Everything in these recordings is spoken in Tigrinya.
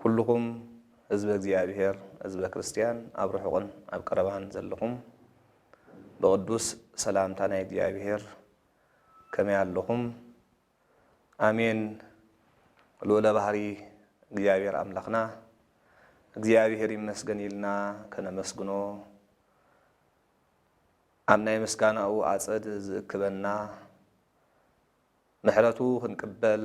ኩሉኹም ህዝበ እግዚኣብሔር ህዝበ ክርስቲያን ኣብ ርሑቕን ኣብ ቀረባን ዘለኹም ብቕዱስ ሰላምታ ናይ እግዚኣብሔር ከመይ ኣለኹም? ኣሜን ልኡለ ባህሪ እግዚኣብሔር ኣምላኽና እግዚኣብሔር ይመስገን ኢልና ከነመስግኖ ኣብ ናይ ምስጋናኡ ኣጸድ ዝእክበና ምሕረቱ ክንቅበል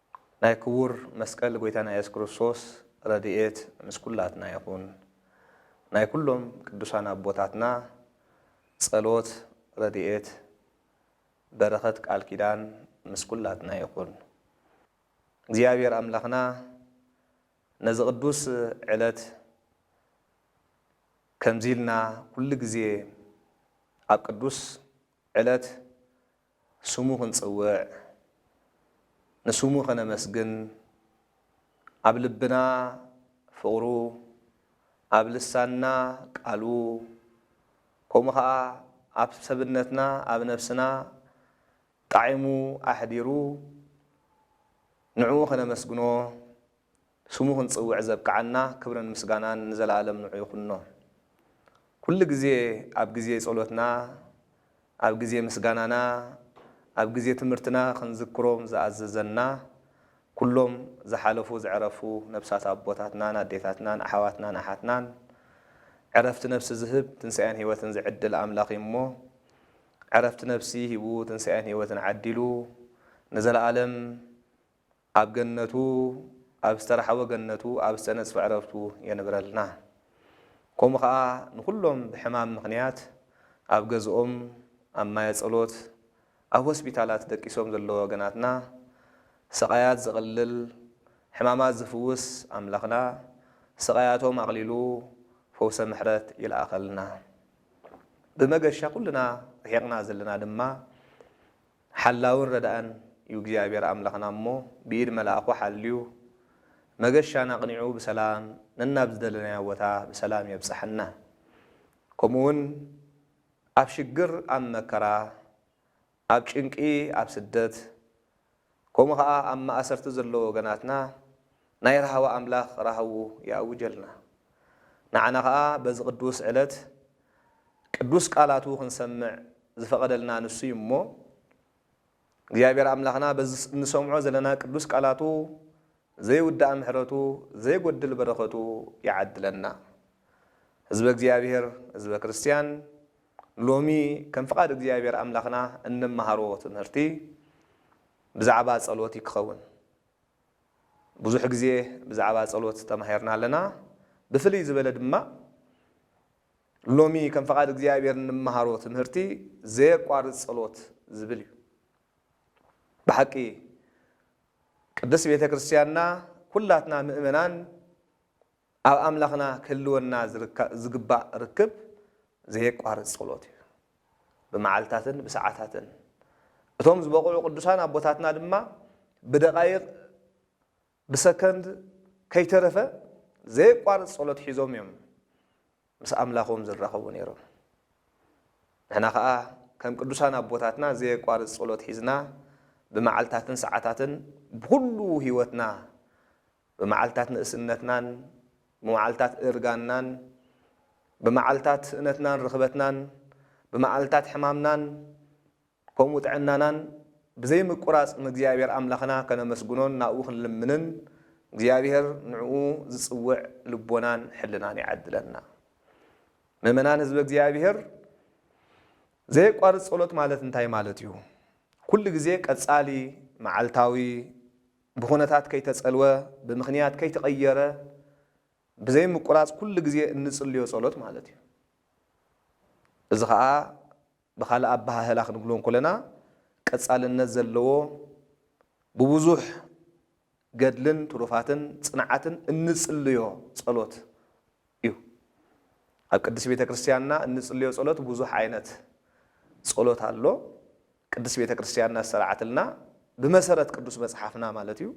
ናይ ክቡር መስቀል ጎይታና ኢየሱስ ክርስቶስ ረድኤት ምስ ኩላትና ይኹን። ናይ ኩሎም ቅዱሳን ኣቦታትና ጸሎት ረድኤት በረኸት ቃል ኪዳን ምስ ኩላትና ይኹን። እግዚኣብሔር ኣምላኽና ነዚ ቅዱስ ዕለት ከምዚ ኢልና ኩሉ ግዜ ኣብ ቅዱስ ዕለት ስሙ ክንጽውዕ ንስሙ ከነመስግን ኣብ ልብና ፍቕሩ ኣብ ልሳንና ቃሉ ከምኡ ከኣ ኣብ ሰብነትና ኣብ ነብስና ጣዒሙ ኣሕዲሩ ንዕኡ ከነመስግኖ ስሙ ክንጽውዕ ዘብቅዓና ክብርን ምስጋናን ንዘለኣለም ንዑ ይኹኖ። ኩሉ ግዜ ኣብ ግዜ ጸሎትና፣ ኣብ ግዜ ምስጋናና፣ ኣብ ግዜ ትምህርትና ክንዝክሮም ዝኣዘዘና ኩሎም ዝሓለፉ ዝዕረፉ ነብሳት ኣቦታትናን ኣዴታትናን ኣሕዋትናን ኣሓትናን ዕረፍቲ ነብሲ ዝህብ ትንሳኤን ሕይወትን ዝዕድል ኣምላኽ እዩ እሞ ዕረፍቲ ነብሲ ሂቡ ትንሳኤን ሕይወትን ዓዲሉ ንዘለኣለም ኣብ ገነቱ ኣብ ዝተራሕወ ገነቱ ኣብ ዝተነጽፈ ዕረፍቱ የንብረልና ከምኡ ከኣ ንኩሎም ብሕማም ምክንያት ኣብ ገዝኦም ኣብ ማየ ጸሎት ኣብ ሆስፒታላት ደቂሶም ዘለዉ ወገናትና ስቃያት ዘቅልል ሕማማት ዝፍውስ ኣምላክና ስቃያቶም ኣቅሊሉ ፈውሰ ምሕረት ይልኣከልና ብመገሻ ኩልና ርሒቅና ዘለና ድማ ሓላውን ረዳእን እዩ እግዚኣብሔር ኣምላኽና እሞ ብኢድ መልኣኹ ሓልዩ መገሻና ኣቕኒዑ ብሰላም ነናብ ዝደለናዮ ቦታ ብሰላም የብጽሐና ከምኡ ውን ኣብ ሽግር ኣብ መከራ ኣብ ጭንቂ ኣብ ስደት ከምኡ ከኣ ኣብ ማእሰርቲ ዘለዉ ወገናትና ናይ ራህዋ ኣምላኽ ራህውኡ ይኣውጀልና። ንዓና ከኣ በዚ ቅዱስ ዕለት ቅዱስ ቃላቱ ክንሰምዕ ዝፈቐደልና ንሱ እዩ እሞ እግዚኣብሔር ኣምላኽና በዚ እንሰምዖ ዘለና ቅዱስ ቃላቱ ዘይውዳእ ምሕረቱ ዘይጎድል በረኸቱ ይዓድለና። ህዝበ እግዚኣብሔር ህዝበ ክርስቲያን ሎሚ ከም ፍቓድ እግዚኣብሔር ኣምላኽና እንመሃሮ ትምህርቲ ብዛዕባ ጸሎት እዩ ክኸውን። ብዙሕ ግዜ ብዛዕባ ጸሎት ተማሂርና ኣለና። ብፍልይ ዝበለ ድማ ሎሚ ከም ፍቓድ እግዚኣብሔር እንመሃሮ ትምህርቲ ዘየቋርጽ ጸሎት ዝብል እዩ። ብሓቂ ቅድስት ቤተ ክርስቲያንና ኩላትና ምእመናን ኣብ ኣምላኽና ክህልወና ዝግባእ ርክብ ዘየቋርጽ ጸሎት እዩ። ብመዓልታትን ብሰዓታትን እቶም ዝበቕዑ ቅዱሳን ኣቦታትና ድማ ብደቓይቕ ብሰከንድ ከይተረፈ ዘየቋርጽ ጸሎት ሒዞም እዮም ምስ ኣምላኾም ዝራኸቡ ነይሮም። ንሕና ኸኣ ከም ቅዱሳን ኣቦታትና ዘየቋርጽ ጸሎት ሒዝና ብመዓልታትን ሰዓታትን ብኹሉ ሕይወትና ብመዓልታት ንእስነትናን ብመዓልታት እርጋንናን ብመዓልታት ስእነትናን ርኽበትናን ብመዓልታት ሕማምናን ከምኡ ጥዕናናን ብዘይ ምቁራጽ ንእግዚኣብሔር ኣምላኽና ከነመስግኖን ናብኡ ክንልምንን እግዚኣብሔር ንዕኡ ዝጽውዕ ልቦናን ሕልናን ይዓድለና። ምእመናን ህዝበ እግዚኣብሔር ዘየቋርጽ ጸሎት ማለት እንታይ ማለት እዩ? ኩሉ ግዜ ቀጻሊ፣ መዓልታዊ፣ ብኹነታት ከይተጸልወ፣ ብምኽንያት ከይተቐየረ፣ ብዘይ ምቁራጽ ኩሉ ግዜ እንጽልዮ ጸሎት ማለት እዩ። እዚ ከኣ ብኻልእ ኣበሃህላ ክንብሎ እንኮለና ቀጻልነት ዘለዎ ብብዙሕ ገድልን ትሩፋትን ጽንዓትን እንጽልዮ ጸሎት እዩ። ኣብ ቅድስት ቤተ ክርስቲያንና እንጽልዮ ጸሎት ብዙሕ ዓይነት ጸሎት ኣሎ። ቅድስት ቤተ ክርስቲያንና ዝሰርዓትልና ብመሰረት ቅዱስ መጽሓፍና ማለት እዩ።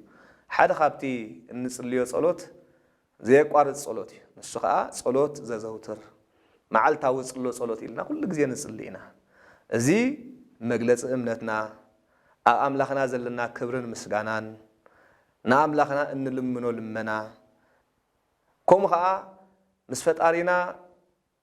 ሓደ ካብቲ እንጽልዮ ጸሎት ዘየቋርጽ ጸሎት እዩ። ንሱ ኸኣ ጸሎት ዘዘውትር፣ መዓልታዊ ጽሎ ጸሎት ኢልና ኩሉ ግዜ ንጽሊ ኢና። እዚ መግለጺ እምነትና፣ ኣብ ኣምላኽና ዘለና ክብርን ምስጋናን፣ ንኣምላኽና እንልምኖ ልመና፣ ከምኡ ኸኣ ምስ ፈጣሪና፣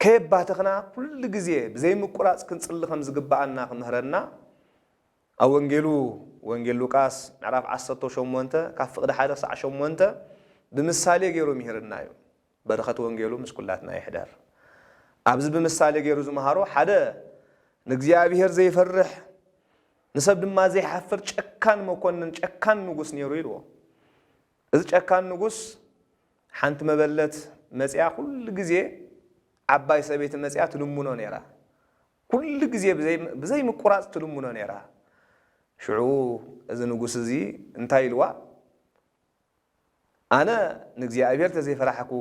ከየባተኽና ኩሉ ግዜ ብዘይምቁራጽ ክንጽሊ ከም ዝግብኣና ክምህረና ኣብ ወንጌሉ ወንጌል ሉቃስ ምዕራፍ ዓሰርተው ሸሞንተ ካብ ፍቕዲ ሓደ ክሳዕ ሸሞንተ ብምሳሌ ገይሩ ምሂርና እዩ። በረኸት ወንጌሉ ምስ ኩላትና ይሕደር። ኣብዚ ብምሳሌ ገይሩ ዝመሃሮ ሓደ ንእግዚኣብሔር ዘይፈርሕ ንሰብ ድማ ዘይሓፍር ጨካን መኮንን ጨካን ንጉስ ነይሩ ኢልዎ። እዚ ጨካን ንጉስ ሓንቲ መበለት መጺኣ ኩሉ ግዜ ዓባይ ሰበይቲ መጺኣ ትልምኖ ነይራ። ኩሉ ግዜ ብዘይ ብዘይ ምቁራጽ ትልምኖ ነይራ። ሽዑ እዚ ንጉስ እዚ እንታይ ኢልዋ ኣነ ንእግዚኣብሄር ተዘይፈራሕኩ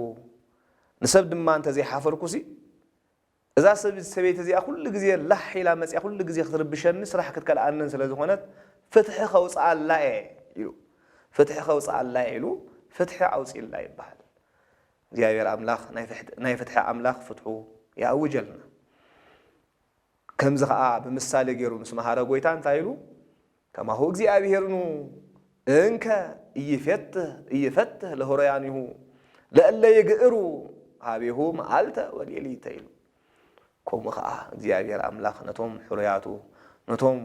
ንሰብ ድማ እንተዘይሓፈርኩሲ እዛ ሰበይቲ እዚኣ ኩሉ ግዜ ላሕ ኢላ መጺኣ ኩሉ ግዜ ክትርብሸኒ ስራሕ ክትከልኣንን ስለ ዝኾነት ፍትሒ ከውጽኣላ እየ ኢሉ ፍትሒ ከውጽኣላ እየ ኢሉ ፍትሒ ኣውጺእላ ይብሃል። እግዚኣብሔር ኣምላኽ ናይ ፍትሒ ኣምላኽ ፍትሑ ይኣውጀልና። ከምዚ ከኣ ብምሳሌ ገይሩ ምስ መሃረ ጎይታ እንታይ ኢሉ ከማሁ እግዚኣብሔርኑ እንከ ኢይፌትህ ኢይፈትህ ለህሮያኒሁ ለእለ ይግእሩ ኀቤሁ መዓልተ ወሌሊተ ኢሉ። ከምኡ ከኣ እግዚኣብሔር ኣምላኽ ነቶም ሕሩያቱ ነቶም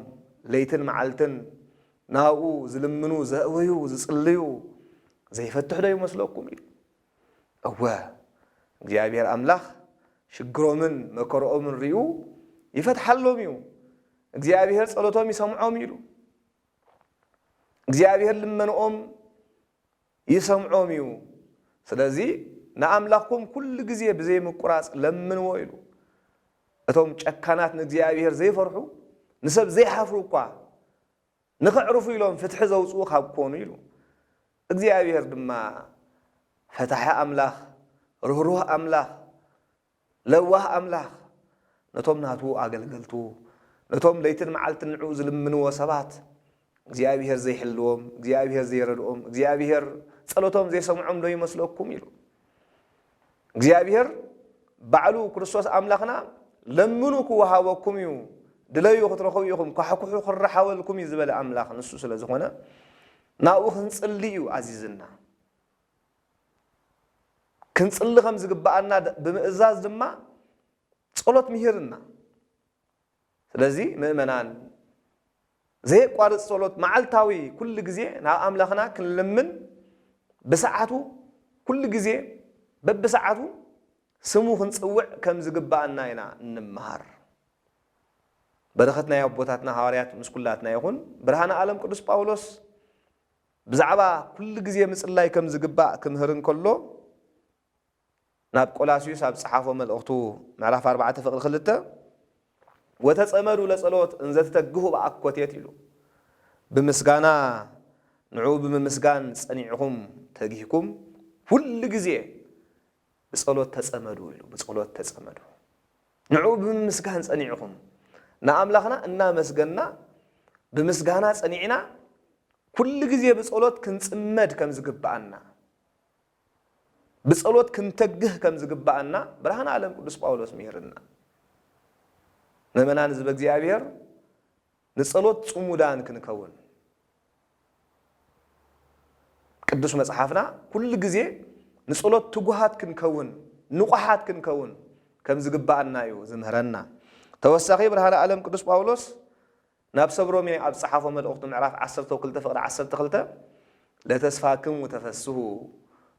ለይትን መዓልትን ናብኡ ዝልምኑ ዘእውዩ ዝጽልዩ ዘይፈትሕዶ ይመስለኩም ኢሉ። እወ፣ እግዚኣብሄር ኣምላኽ ሽግሮምን መከርኦምን ሪኡ ይፈትሓሎም እዩ። እግዚኣብሄር ጸሎቶም ይሰምዖም እዩ ኢሉ። እግዚኣብሄር ልመንኦም ይሰምዖም እዩ። ስለዚ ንኣምላኽኩም ኩሉ ግዜ ብዘይ ምቁራጽ ለምንዎ ኢሉ። እቶም ጨካናት ንእግዚኣብሄር ዘይፈርሑ ንሰብ ዘይሓፍሩ እኳ ንኸዕርፉ ኢሎም ፍትሒ ዘውጽኡ ካብ ኮኑ ኢሉ። እግዚኣብሄር ድማ ፈታሒ ኣምላኽ፣ ርህሩህ ኣምላኽ፣ ለዋህ ኣምላኽ፣ ነቶም ናቱ ኣገልገልቱ፣ ነቶም ለይትን መዓልትን ንዕኡ ዝልምንዎ ሰባት፣ እግዚኣብሄር ዘይሕልዎም፣ እግዚኣብሄር ዘይረድኦም፣ እግዚኣብሄር ጸሎቶም ዘይሰምዖም ዶ ይመስለኩም? ኢሉ። እግዚኣብሄር ባዕሉ ክርስቶስ ኣምላኽና ለምኑ ክወሃበኩም እዩ፣ ድለዩ ክትረኽቡ ኢኹም፣ ኳሕኩሑ ክረሓበልኩም እዩ ዝበለ ኣምላኽ ንሱ ስለ ዝኾነ ናብኡ ክንጽሊ እዩ ኣዚዝና። ክንጽሊ ከም ዝግብኣና ብምእዛዝ ድማ ጸሎት ምሂርና። ስለዚ ምእመናን ዘየቋርጽ ጸሎት መዓልታዊ ኩሉ ግዜ ናብ ኣምላኽና ክንልምን ብሰዓቱ ኩሉ ግዜ በብሰዓቱ ስሙ ክንጽውዕ ከም ዝግብኣና ኢና እንመሃር። በረኸት ናይ ኣቦታትና ሃዋርያት ምስ ኩላትና ይኹን። ብርሃነ ኣለም ቅዱስ ጳውሎስ ብዛዕባ ኩሉ ግዜ ምጽላይ ከም ዝግባእ ክምህር እንከሎ፣ ናብ ቆላስዩስ ኣብ ዝጸሓፎ መልእኽቱ ምዕራፍ ኣርባዕተ ፍቕዲ ክልተ ወተጸመዱ ለጸሎት እንዘ ትተግሁ በኣኰቴት ኢሉ ብምስጋና ንዕኡ ብምምስጋን ጸኒዕኩም ተጊህኩም ኵሉ ግዜ ብጸሎት ተጸመዱ ኢሉ ብጸሎት ተጸመዱ ንዕኡ ብምምስጋን ጸኒዕኩም ንኣምላኽና እናመስገንና ብምስጋና ጸኒዕና ኵሉ ግዜ ብጸሎት ክንጽመድ ከም ዝግብኣና ብጸሎት ክንተግህ ከም ዝግብኣና ብርሃን ዓለም ቅዱስ ጳውሎስ ምሂርና። ምእመናን ህዝበ እግዚኣብሔር ንጸሎት ጽሙዳን ክንከውን ቅዱስ መጽሓፍና ኩሉ ግዜ ንጸሎት ትጉሃት ክንከውን ንቑሓት ክንከውን ከም ዝግብኣና እዩ ዝምህረና። ተወሳኺ ብርሃን ዓለም ቅዱስ ጳውሎስ ናብ ሰብ ሮሜ ኣብ ዝጸሓፎ መልእኽቱ ምዕራፍ ዓሰርተው ክልተ ፍቕዲ ዓሰርተ ክልተ ለተስፋክሙ ተፈስሁ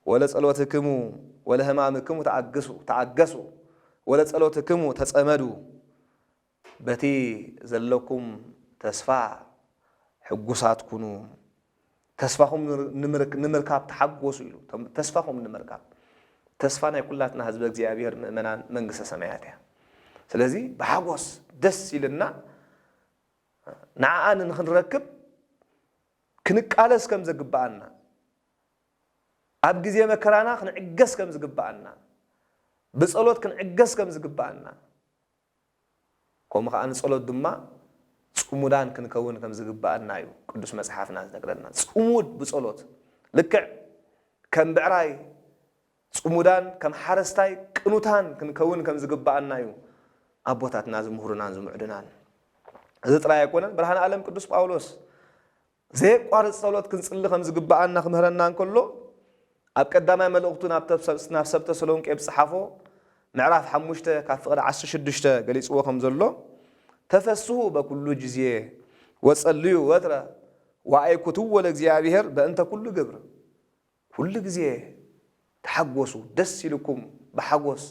ወለጸሎትክሙ ወለህማምክሙ ተኣግሱ ተኣገሱ ወለጸሎትክሙ ተጸመዱ በቲ ዘለኩም ተስፋ ሕጉሳት ኩኑ ተስፋኹም ንምርካብ ተሓጎሱ ኢሉ። ተስፋኹም ንምርካብ። ተስፋ ናይ ኩላትና ህዝበ እግዚኣብሔር ምእመናን መንግስተ ሰማያት እያ። ስለዚ ብሓጎስ ደስ ኢልና ንዓኣ ንክንረክብ ክንቃለስ ከም ዘግብኣና ኣብ ግዜ መከራና ክንዕገስ ከም ዝግብኣና ብጸሎት ክንዕገስ ከም ዝግብኣና ከምኡ ኸኣ ንጸሎት ድማ ጽሙዳን ክንከውን ከም ዝግብኣና እዩ ቅዱስ መጽሓፍና ዝነግረና። ጽሙድ ብጸሎት ልክዕ ከም ብዕራይ ጽሙዳን ከም ሓረስታይ ቅኑታን ክንከውን ከም ዝግብኣና እዩ ኣቦታትና ዝምህሩናን ዝምዕዱናን። እዚ ጥራይ ኣይኮነን ብርሃን ኣለም ቅዱስ ጳውሎስ፣ ዘየቋርጽ ጸሎት ክንጽሊ ከም ዝግብኣና ክምህረና እንከሎ፣ ኣብ ቀዳማይ መልእኽቱ ናብ ሰብ ተሰሎንቄ ብጽሓፎ ምዕራፍ ሓሙሽተ ካብ ፍቕዲ ዓሰርተ ሽዱሽተ ገሊጽዎ ከም ዘሎ፣ ተፈስሁ በኩሉ ጊዜ ወጸልዩ ወትረ ወኣይኩትዎ ለእግዚኣብሔር በእንተ ኩሉ ግብር። ኩሉ ግዜ ተሓጎሱ ደስ ኢሉኩም ብሓጎስ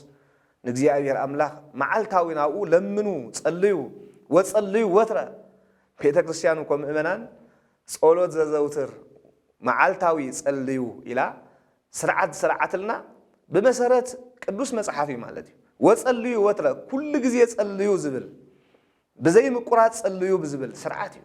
ንእግዚኣብሔር ኣምላክ መዓልታዊ ናብኡ ለምኑ ጸልዩ ወጸልዩ ወትረ ቤተክርስትያን እኮ ምእመናን ጸሎት ዘዘውትር መዓልታዊ ጸልዩ ኢላ ስርዓት ዝሰረዓትልና ብመሰረት ቅዱስ መጽሓፍ እዩ ማለት እዩ ወጸልዩ ወትረ ኩሉ ግዜ ጸልዩ ዝብል ብዘይ ምቁራጽ ጸልዩ ብዝብል ስርዓት እዩ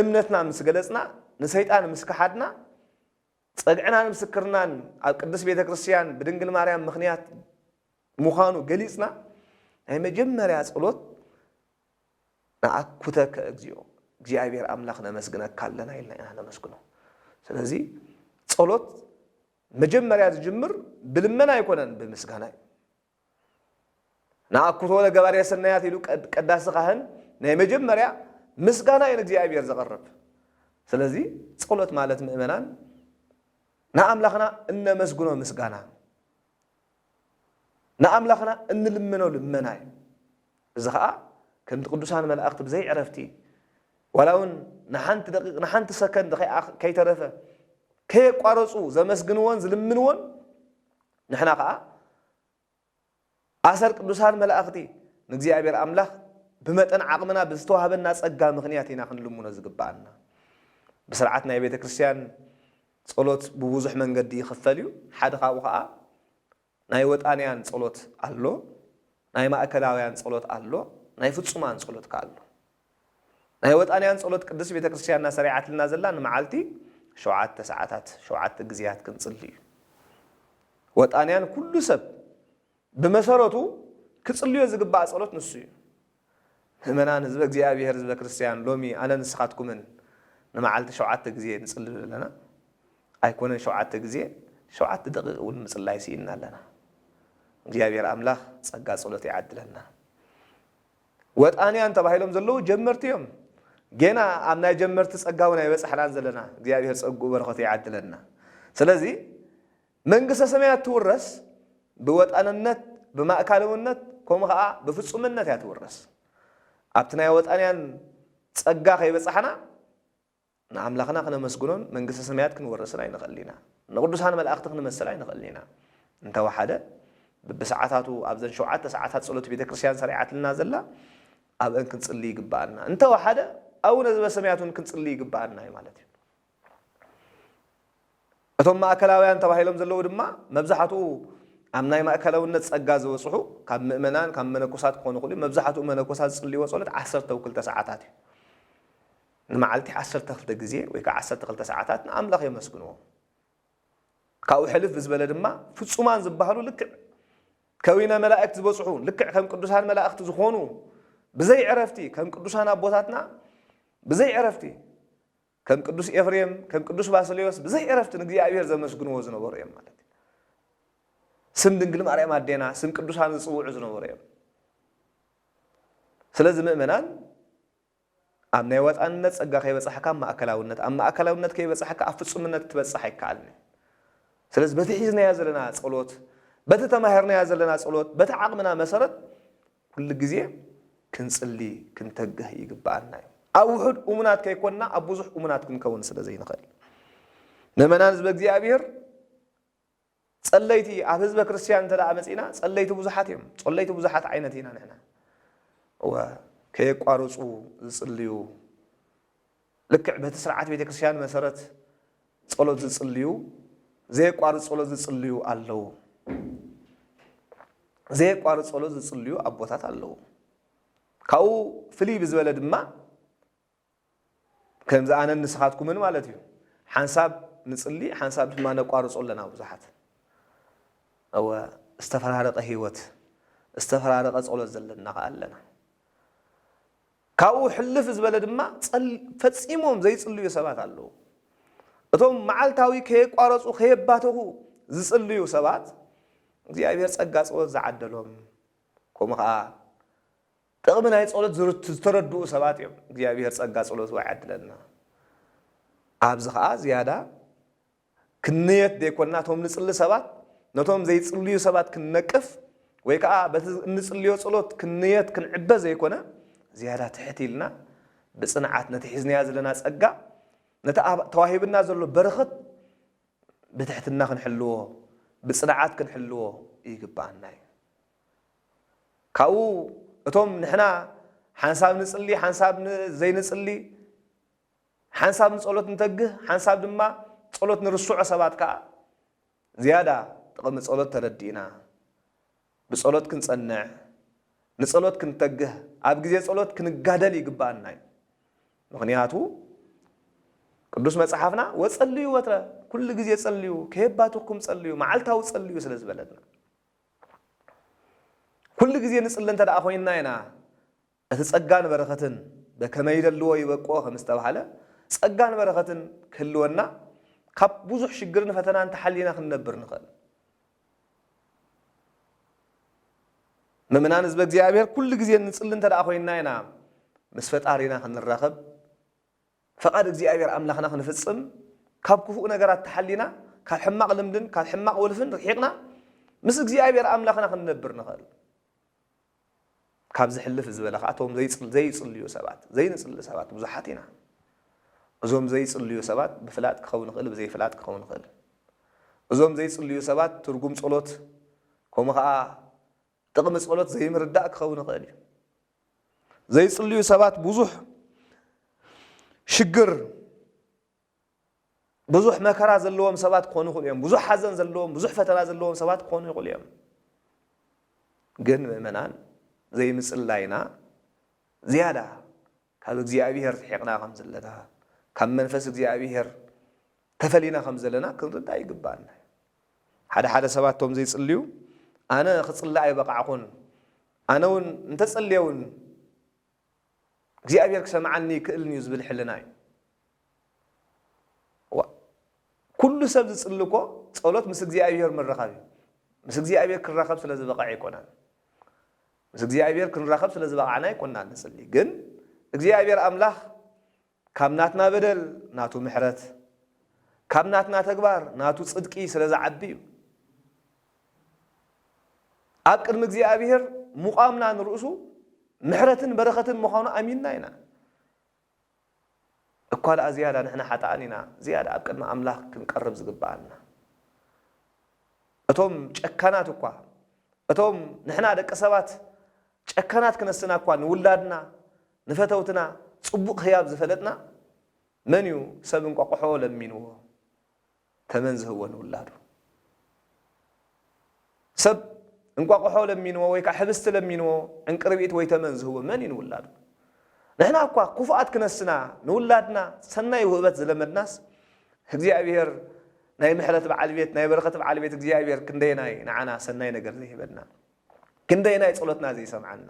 እምነትና ምስ ገለጽና፣ ንሰይጣን ምስ ከሓድና፣ ጸግዕናን ምስክርናን ኣብ ቅድስት ቤተ ክርስቲያን ብድንግል ማርያም ምኽንያት ምዃኑ ገሊጽና፣ ናይ መጀመርያ ጸሎት ነኣኩተከ እግዚኦ፣ እግዚኣብሔር ኣምላኽ ነመስግነካ ኣለና ኢልና ኢና ነመስግኖ። ስለዚ ጸሎት መጀመርያ ዝጅምር ብልመና ኣይኮነን ብምስጋና እዩ። ንኣኩቶ ለገባሬ ሰናያት ኢሉ ቀዳሲ ካህን ናይ መጀመርያ ምስጋና እዩ ንእግዚኣብሔር ዘቕርብ። ስለዚ ጸሎት ማለት ምእመናን ንኣምላኽና እነመስግኖ ምስጋና ንኣምላኽና እንልምኖ ልመና እዩ እዚ ከዓ ከምቲ ቅዱሳን መላእኽቲ ብዘይ ዕረፍቲ ዋላ እውን ንሓንቲ ደቂቕ ንሓንቲ ሰከንድ ከይተረፈ ከየቋረፁ ዘመስግንዎን ዝልምንዎን ንሕና ከኣ ኣሰር ቅዱሳን መላእኽቲ ንእግዚኣብሔር ኣምላኽ ብመጠን ዓቕምና ብዝተዋህበና ጸጋ ምኽንያት ኢና ክንልምኖ ዝግብኣና። ብሥርዓት ናይ ቤተ ክርስቲያን ጸሎት ብብዙኅ መንገዲ ይኽፈል እዩ። ሓደ ካብኡ ከኣ ናይ ወጣንያን ጸሎት ኣሎ፣ ናይ ማእከላውያን ጸሎት ኣሎ፣ ናይ ፍጹማን ጸሎት ከኣ ኣሎ። ናይ ወጣንያን ጸሎት ቅድስት ቤተ ክርስቲያንና ሰሪዓትልና ዘላ ንመዓልቲ ሸውዓተ ሰዓታት ሸውዓተ ግዜያት ክንጽሊ እዩ። ወጣንያን ኩሉ ሰብ ብመሰረቱ ክጽልዮ ዝግባእ ጸሎት ንሱ እዩ። ምእመናን ህዝበ እግዚኣብሔር ህዝበ ክርስቲያን ሎሚ ኣነ ንስኻትኩምን ንመዓልቲ ሸውዓተ ግዜ ንጽሊ ዶ ኣለና? ኣይኮነን ሸውዓተ ግዜ ሸውዓተ ደቂቅ እውን ምጽላይ ስኢንና ኣለና። እግዚኣብሔር ኣምላኽ ጸጋ ጸሎት ይዓድለና። ወጣንያን ተባሂሎም ዘለዉ ጀመርቲ እዮም ጌና ኣብ ናይ ጀመርቲ ጸጋ ውን ኣይበጻሕናን ዘለና እግዚኣብሄር ጸግኡ በረኸቱ ይዓድለና ስለዚ መንግስተ ሰማያት ትውረስ ብወጣንነት ብማእካልውነት ከምኡ ከዓ ብፍጹምነት እያ ትውረስ ኣብቲ ናይ ወጣንያን ጸጋ ከይበጻሕና ንኣምላኽና ክነመስግኖን መንግስተ ሰማያት ክንወርስን ኣይንኽእልን ኢና። ንቕዱሳን መላእኽቲ ክንመስል ኣይንኽእልን ኢና። እንተ ወሓደ ብብሰዓታቱ ኣብዘን ሸውዓተ ሰዓታት ጸሎት ቤተ ክርስቲያን ሰሪዓትልና ዘላ ኣብአን ክንጽሊ ይግብኣና። እንተ ወሓደ ኣቡነ ዘበሰማያት እውን ክንጽሊ ይግብኣና እዩ ማለት እዩ። እቶም ማእከላውያን ተባሂሎም ዘለዉ ድማ መብዛሕትኡ ኣብ ናይ ማእከላውነት ጸጋ ዝበጽሑ ካብ ምእመናን ካብ መነኮሳት ክኾኑ ይኽእሉ። መብዛሕትኡ መነኮሳት ዝጽልይዎ ጸሎት ዓሰርተው ክልተ ሰዓታት እዩ። ንመዓልቲ ዓሰርተ ክልተ ግዜ ወይ ከኣ ዓሰርተ ክልተ ሰዓታት ንኣምላኽ የመስግንዎ። ካብኡ ሕልፍ ብዝበለ ድማ ፍጹማን ዝበሃሉ ልክዕ ከዊነ መላእክት ዝበጽሑ ልክዕ ከም ቅዱሳን መላእክት ዝኾኑ ብዘይ ዕረፍቲ ከም ቅዱሳን ኣቦታትና ብዘይ ዕረፍቲ ከም ቅዱስ ኤፍሬም ከም ቅዱስ ባስሌዎስ ብዘይ ዕረፍቲ ንእግዚኣብሔር ዘመስግንዎ ዝነበሩ እዮም ማለት እዩ። ስም ድንግል ማርያም ኣዴና ስም ቅዱሳን ዝጽውዑ ዝነበሩ እዮም። ስለዚ ምእመናን ኣብ ናይ ወጣንነት ጸጋ ከይበጻሕካ ኣብ ማእከላውነት፣ ኣብ ማእከላውነት ከይበጻሕካ ኣብ ፍጹምነት ክትበጽሕ ኣይከኣልን እዩ። ስለዚ በቲ ሒዝናዮ ዘለና ጸሎት፣ በቲ ተማሂርናዮ ዘለና ጸሎት፣ በቲ ዓቕምና መሰረት ኩሉ ግዜ ክንጽሊ ክንተግህ ይግብኣና እዩ። ኣብ ውሑድ እሙናት ከይኮንና ኣብ ብዙሕ እሙናት ክንከውን ስለ ዘይንኽእል። ምእመናን ህዝበ እግዚኣብሔር ጸለይቲ ኣብ ህዝበ ክርስትያን እንተ መጺእና ጸለይቲ ብዙሓት እዮም። ጾለይቲ ብዙሓት ዓይነት ኢና ንሕና። እወ ከየቋርጹ ዝጽልዩ ልክዕ በቲ ስርዓት ቤተ ክርስትያን መሰረት ጸሎት ዝጽልዩ ዘየቋርጽ ጸሎት ዝጽልዩ ኣለዉ። ዘየቋርጽ ጸሎት ዝጽልዩ ኣቦታት ኣለዉ። ካብኡ ፍልይ ብዝበለ ድማ ከምዚ ኣነን ንስኻትኩምን ማለት እዩ ሓንሳብ ንጽሊ ሓንሳብ ድማ ነቋርጾ ኣለና ብዙሓት እወ ዝተፈራረቀ ህይወት ዝተፈራረቀ ጸሎት ዘለና ከኣ ኣለና ካብኡ ሕልፍ ዝበለ ድማ ፈጺሞም ዘይጽልዩ ሰባት ኣለዉ እቶም መዓልታዊ ከየቋረጹ ከየባተኹ ዝጽልዩ ሰባት እግዚኣብሔር ጸጋ ጸሎት ዝዓደሎም ከምኡ ከዓ ጥቕሚ ናይ ጸሎት ዝርት ዝተረድኡ ሰባት እዮም። እግዚኣብሄር ጸጋ ጸሎቱ ኣይዓድለልና። ኣብዚ ከኣ ዝያዳ ክንንየት ዘይኮንና እቶም ንጽሊ ሰባት ነቶም ዘይጽልዩ ሰባት ክንነቅፍ ወይ ከኣ በቲ እንጽልዮ ጸሎት ክንንየት ክንዕበ ዘይኮነ ዝያዳ ትሕት ኢልና ብጽንዓት ነቲ ሒዝናያ ዘለና ጸጋ ነቲ ኣብ ተዋሂብና ዘሎ በረኸት ብትሕትና ክንሕልዎ ብጽንዓት ክንሕልዎ ይግብኣና እዩ። ካብኡ እቶም ንሕና ሓንሳብ ንጽሊ ሓንሳብ ዘይንጽሊ፣ ሓንሳብ ንጸሎት ንተግህ ሓንሳብ ድማ ጸሎት ንርስዖ ሰባት ከኣ ዝያዳ ጥቕሚ ጸሎት ተረዲእና ብጸሎት ክንጸንዕ ንጸሎት ክንተግህ ኣብ ግዜ ጸሎት ክንጋደል ይግብኣና እዩ። ምኽንያቱ ቅዱስ መጽሓፍና ወጸልዩ ወትረ ኩሉ ግዜ ጸልዩ ከየባትኽኩም ጸልዩ መዓልታዊ ጸልዩ ስለ ዝበለና። ኩሉ ግዜ ንጽሊ እንተ ደኣ ኮይንና ኢና፣ እቲ ጸጋን በረኸትን በከመ ይደልዎ ይበቅዖ ከም ዝተባህለ፣ ጸጋን በረኸትን ክህልወና ካብ ብዙሕ ሽግርን ፈተናን ተሓሊና ክንነብር ንኽእል። ምእምናን ህዝበ እግዚኣብሔር ኩሉ ግዜ ንጽሊ እንተ ደኣ ኮይንና ኢና ምስ ፈጣሪና ክንራኸብ፣ ፈቓድ እግዚኣብሔር ኣምላኽና ክንፍጽም ካብ ክፉእ ነገራት ተሓሊና ካብ ሕማቕ ልምድን ካብ ሕማቕ ወልፍን ርሒቕና ምስ እግዚኣብሔር ኣምላኽና ክንነብር ንኽእል። ካብ ዝሕልፍ ዝበለ ከዓ እቶም ዘይፅልዩ ሰባት ዘይንፅሊ ሰባት ብዙሓት ኢና እዞም ዘይፅልዩ ሰባት ብፍላጥ ክኸውን ይኽእል ብዘይፍላጥ ክኸውን ይኽእል እዞም ዘይፅልዩ ሰባት ትርጉም ፀሎት ከምኡ ከዓ ጥቕሚ ጸሎት ዘይምርዳእ ክኸውን ይኽእል እዩ። ዘይጽልዩ ሰባት ብዙሕ ሽግር ብዙሕ መከራ ዘለዎም ሰባት ክኾኑ ይኽእሉ እዮም። ብዙሕ ሓዘን ዘለዎም፣ ብዙሕ ፈተና ዘለዎም ሰባት ክኾኑ ይኽእሉ እዮም። ግን ምእመናን ዘይምጽላይና ዝያዳ ካብ እግዚኣብሄር ርሒቕና ከም ዘለና፣ ካብ መንፈስ እግዚኣብሄር ተፈሊና ከም ዘለና ክንርዳእ ይግብኣና እዩ። ሓደ ሓደ ሰባት እቶም ዘይጽልዩ ኣነ ክጽሊ ኣይበቓዕኹን፣ ኣነ እውን እንተ ጸልየ እውን እግዚኣብሄር ክሰምዓኒ ኣይክእልን እዩ ዝብል ሕልና እዩ። ዋእ ኩሉ ሰብ ዝጽሊ እኮ ጸሎት ምስ እግዚኣብሄር ምርኻብ እዩ። ምስ እግዚኣብሄር ክራኸብ ስለ ዝበቐዐ ኣይኮነን። ምስ እግዚኣብሔር ክንራኸብ ስለ ዝበቓዕና ኣይኮናን ንጽሊ ግን እግዚኣብሔር ኣምላኽ ካብ ናትና በደል ናቱ ምሕረት ካብ ናትና ተግባር ናቱ ጽድቂ ስለ ዝዓቢ እዩ ኣብ ቅድሚ እግዚኣብሔር ምቛምና ንርእሱ ምሕረትን በረኸትን ምዃኑ ኣሚንና ኢና እኳ ደኣ ዝያዳ ንሕና ሓጥኣን ኢና ዝያዳ ኣብ ቅድሚ ኣምላኽ ክንቀርብ ዝግብኣና። እቶም ጨካናት እኳ፣ እቶም ንሕና ደቂ ሰባት ጨካናት ክነስና እኳ ንውላድና ንፈተውትና ጽቡቕ ህያብ ዝፈለጥና፣ መን እዩ ሰብ እንቋቑሖ ለሚንዎ ተመን ዝህቦ ንውላዱ። ሰብ እንቋቑሖ ለሚንዎ ወይ ከዓ ሕብስቲ ለሚንዎ ዕንቅርቢት ወይ ተመን ዝህቦ መን እዩ ንውላዱ? ንሕና እኳ ክፉኣት ክነስና ንውላድና ሰናይ ውህበት ዝለመድናስ እግዚኣብሔር ናይ ምሕረት በዓል ቤት ናይ በረኸት በዓል ቤት እግዚኣብሔር ክንደየናይ ንዓና ሰናይ ነገር ዘይህበና ክንደየናይ ጸሎትና ዘይሰምዓና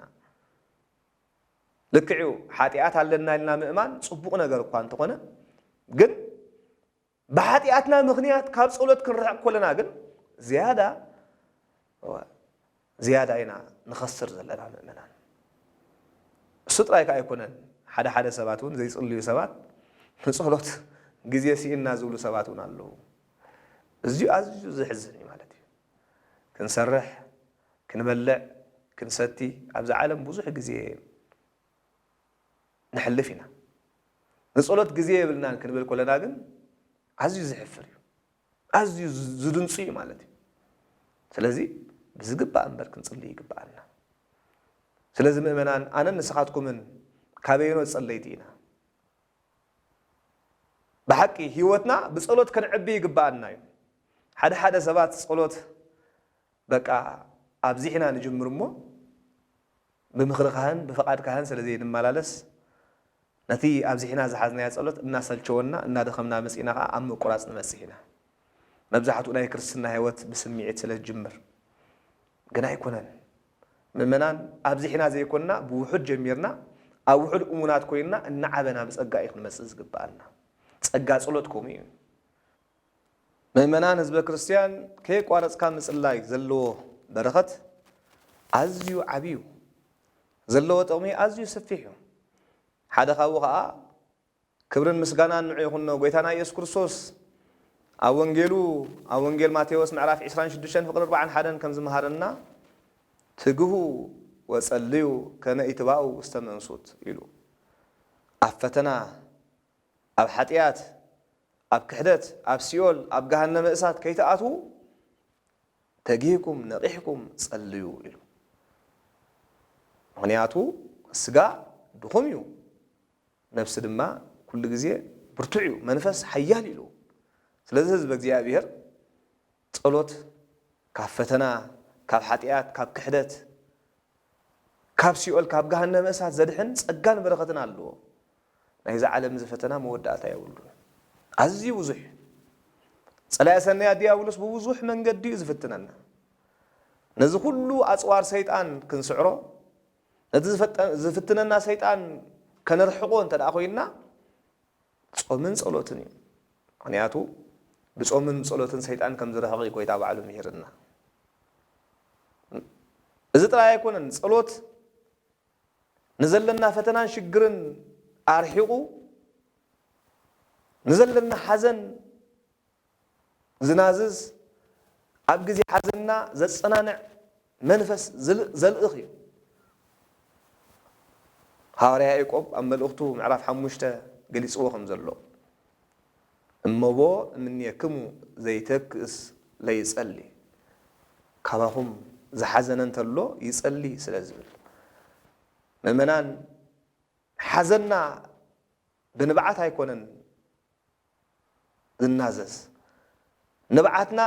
ልክዕ እዩ ሓጢኣት ኣለና ኢልና ምእማን ጽቡቕ ነገር እኳ እንተኾነ ግን ብሓጢኣትና ምኽንያት ካብ ጸሎት ክንርሕቕ ከሎና ግን ዝያዳ እወ ዝያዳ ኢና ንኸስር ዘለና ምእመናን። እሱ ጥራይ ከኣ ኣይኮነን ሓደ ሓደ ሰባት እውን ዘይጽልዩ ሰባት ንጸሎት ግዜ ስኢንና ዝብሉ ሰባት እውን ኣለዉ። እዚዩ ኣዝዩ ዘሕዝን እዩ ማለት እዩ። ክንሰርሕ ክንበልዕ ክንሰቲ ኣብዛ ዓለም ብዙሕ ግዜ ነሕልፍ ኢና። ንጸሎት ግዜ የብልናን ክንብል ከለና ግን ኣዝዩ ዘሕፍር እዩ። ኣዝዩ ዝድንጹ እዩ ማለት እዩ። ስለዚ ብዝግባእ እምበር ክንጽሊ ይግብኣና። ስለዚ ምእመናን ኣነን ንስኻትኩምን ካበየኖ ጸለይቲ ኢና? ብሓቂ ህይወትና ብጸሎት ከነዕቢ ይግብኣና እዩ። ሓደ ሓደ ሰባት ጸሎት በቃ ኣብዚሕና ንጅምር እሞ ብምኽሪ ካህን ብፍቓድ ካህን ስለ ዘይንመላለስ ነቲ ኣብዚሕና ዝሓዝናዮ ጸሎት እናሰልቸወና እናደኸምና መጺእና ከኣ ኣብ ምቁራጽ ንበጽሕ ኢና። መብዛሕትኡ ናይ ክርስትና ሕይወት ብስምዒት ስለ ዝጅምር ግን ኣይኮነን። ምእመናን ኣብዚሕና ዘይኮንና ብውሑድ ጀሚርና ኣብ ውሑድ እሙናት ኮይንና እናዓበና ብጸጋ እዩ ክንመጽእ ዝግብኣና። ጸጋ ጸሎት ከምኡ እዩ። ምእመናን ህዝበ ክርስቲያን ከየቋረጽካ ምጽላይ ዘለዎ በረኸት ኣዝዩ ዓቢ እዩ። ዘለዎ ጥቕሚ ኣዝዩ ሰፊሕ እዩ። ሓደ ካብኡ ኸኣ ክብርን ምስጋናን ንዑ ይኹኖ ጎይታና ኢየሱስ ክርስቶስ ኣብ ወንጌሉ ኣብ ወንጌል ማቴዎስ ምዕራፍ ዕስራን ሽዱሽተን ፍቕሪ ኣርብዓን ሓደን ከም ዝመሃረና ትግሁ ወጸልዩ ከመ ኢትባኡ ውስተ መንሱት ኢሉ ኣብ ፈተና ኣብ ሓጥያት ኣብ ክሕደት ኣብ ሲኦል ኣብ ገሃነመ እሳት ከይትኣትዉ ተጊህኩም ነቒሕኩም ጸልዩ ኢሉ። ምኽንያቱ ስጋ ድኹም እዩ ነብሲ ድማ ኩሉ ግዜ ብርቱዕ እዩ መንፈስ ሓያል ኢሉ። ስለዚ ህዝበ እግዚኣብሄር ጸሎት ካብ ፈተና ካብ ሓጥያት ካብ ክሕደት ካብ ሲኦል ካብ ገሃነመ እሳት ዘድሕን ጸጋን በረኸትን ኣለዎ። ናይዚ ዓለም እዚ ፈተና መወዳእታ የብሉን። ኣዝዩ ብዙሕ እዩ። ጸላኢ ሰናያት ድያብሎስ ብብዙሕ መንገዲ እዩ ዝፍትነና። ነዚ ኩሉ ኣጽዋር ሰይጣን ክንስዕሮ ነቲ ዝፍትነና ሰይጣን ከነርሕቆ እንተድኣ ኮይንና ጾምን ጸሎትን እዩ ምክንያቱ ብጾምን ብጸሎትን ሰይጣን ከም ዝርሕቅ እዩ ጎይታ ባዕሉ ሚሂርና እዚ ጥራይ ኣይኮነን ጸሎት ንዘለና ፈተናን ሽግርን ኣርሒቁ ንዘለና ሓዘን ዝናዝዝ፣ ኣብ ግዜ ሓዘንና ዘጸናንዕ መንፈስ ዘልእኽ እዩ። ሃዋርያ ያእቆብ ኣብ መልእኽቱ ምዕራፍ ሓሙሽተ ገሊጽዎ ከም ዘሎ እመቦ እምኔክሙ ዘይተክእስ ለይጸሊ ካባኹም ዝሓዘነ እንተሎ ይጸሊ ስለ ዝብል ምእመናን ሓዘንና ብንብዓት ኣይኮነን ዝናዘዝ። ንብዓትና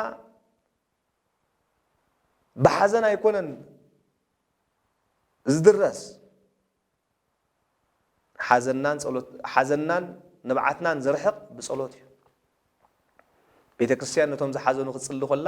ብሓዘን ኣይኮነን ዝድረስ፣ ሓዘንናን ንብዓትናን ዝርሕቕ ብጸሎት እዩ። ቤተ ክርስቲያን ነቶም ዝሓዘኑ ክትጽሊ ኮላ፣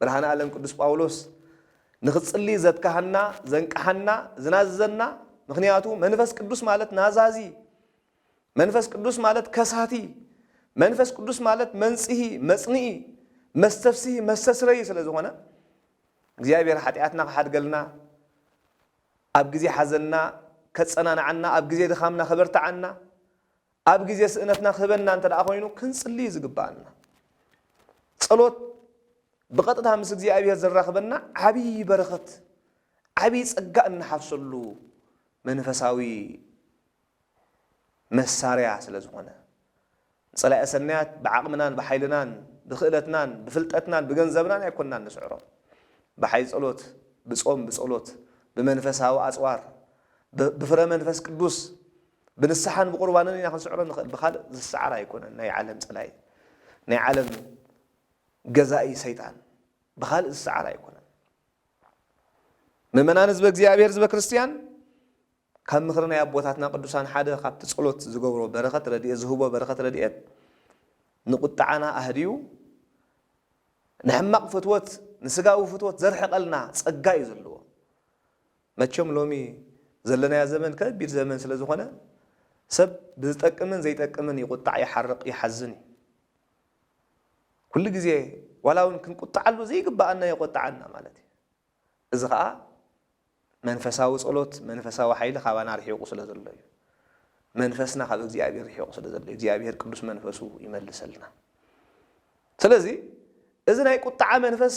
ብርሃነ ኣለም ቅዱስ ጳውሎስ ንክትጽሊ ዘትካሃና ዘንቃሓና ዝናዝዘና ምክንያቱ መንፈስ ቅዱስ ማለት ናዛዚ መንፈስ ቅዱስ ማለት ከሳቲ መንፈስ ቅዱስ ማለት መንጽሂ መጽንኢ መስተፍስሂ መስተስረይ ስለ ዝኾነ እግዚኣብሔር ሓጢኣትና ክሓድገልና ኣብ ግዜ ሓዘንና ከጸናንዓና ኣብ ግዜ ድኻምና ከበርትዓና ኣብ ግዜ ስእነትና ክህበና እንተ ኮይኑ ክንጽሊ እዩ ዝግብኣና። ጸሎት ብቐጥታ ምስ እግዚኣብሔር ዘራኽበና ዓብዪ በረኸት ዓብዪ ጸጋ እንሓፍሰሉ መንፈሳዊ መሳርያ ስለ ዝኾነ ንጸላኢ ሰናያት ብዓቕምናን ብሓይልናን ብክእለትናን ብፍልጠትናን ብገንዘብናን ኣይኮንናን ንስዕሮም ብሓይል ጸሎት ብጾም ብጸሎት ብመንፈሳዊ ኣጽዋር ብፍረ መንፈስ ቅዱስ ብንስሓን ብቁርባንን ኢና ክንስዕሮ ንኽእል ብኻልእ ዝሰዓር ኣይኮነን ናይ ዓለም ጸላኢ ናይ ዓለም ገዛኢ ሰይጣን ብኻልእ ዝሰዓር ኣይኮነን ምእመናን ህዝበ እግዚኣብሔር ህዝበ ክርስትያን ካብ ምኽሪ ናይ ኣቦታትና ቅዱሳን ሓደ ካብቲ ጸሎት ዝገብሮ በረኸት ረድኤት ዝህቦ በረኸት ረድኤት ንቁጣዓና ኣህድዩ ንሕማቕ ፍትወት ንስጋዊ ፍትወት ዘርሕቐልና ጸጋ እዩ ዘለዎ መቸም ሎሚ ዘለናዮ ዘመን ከቢድ ዘመን ስለ ዝኾነ ሰብ ብዝጠቅምን ዘይጠቅምን ይቑጣዕ ይሓርቕ ይሓዝን እዩ። ኩሉ ግዜ ዋላ እውን ክንቁጣዓሉ ዘይግብኣና የቖጥዓና ማለት እዩ። እዚ ኸኣ መንፈሳዊ ጸሎት መንፈሳዊ ሓይሊ ካባና ርሒቑ ስለ ዘሎ እዩ። መንፈስና ካብ እግዚኣብሔር ርሒቑ ስለ ዘሎ እዩ። እግዚኣብሔር ቅዱስ መንፈሱ ይመልሰልና። ስለዚ እዚ ናይ ቁጥዓ መንፈስ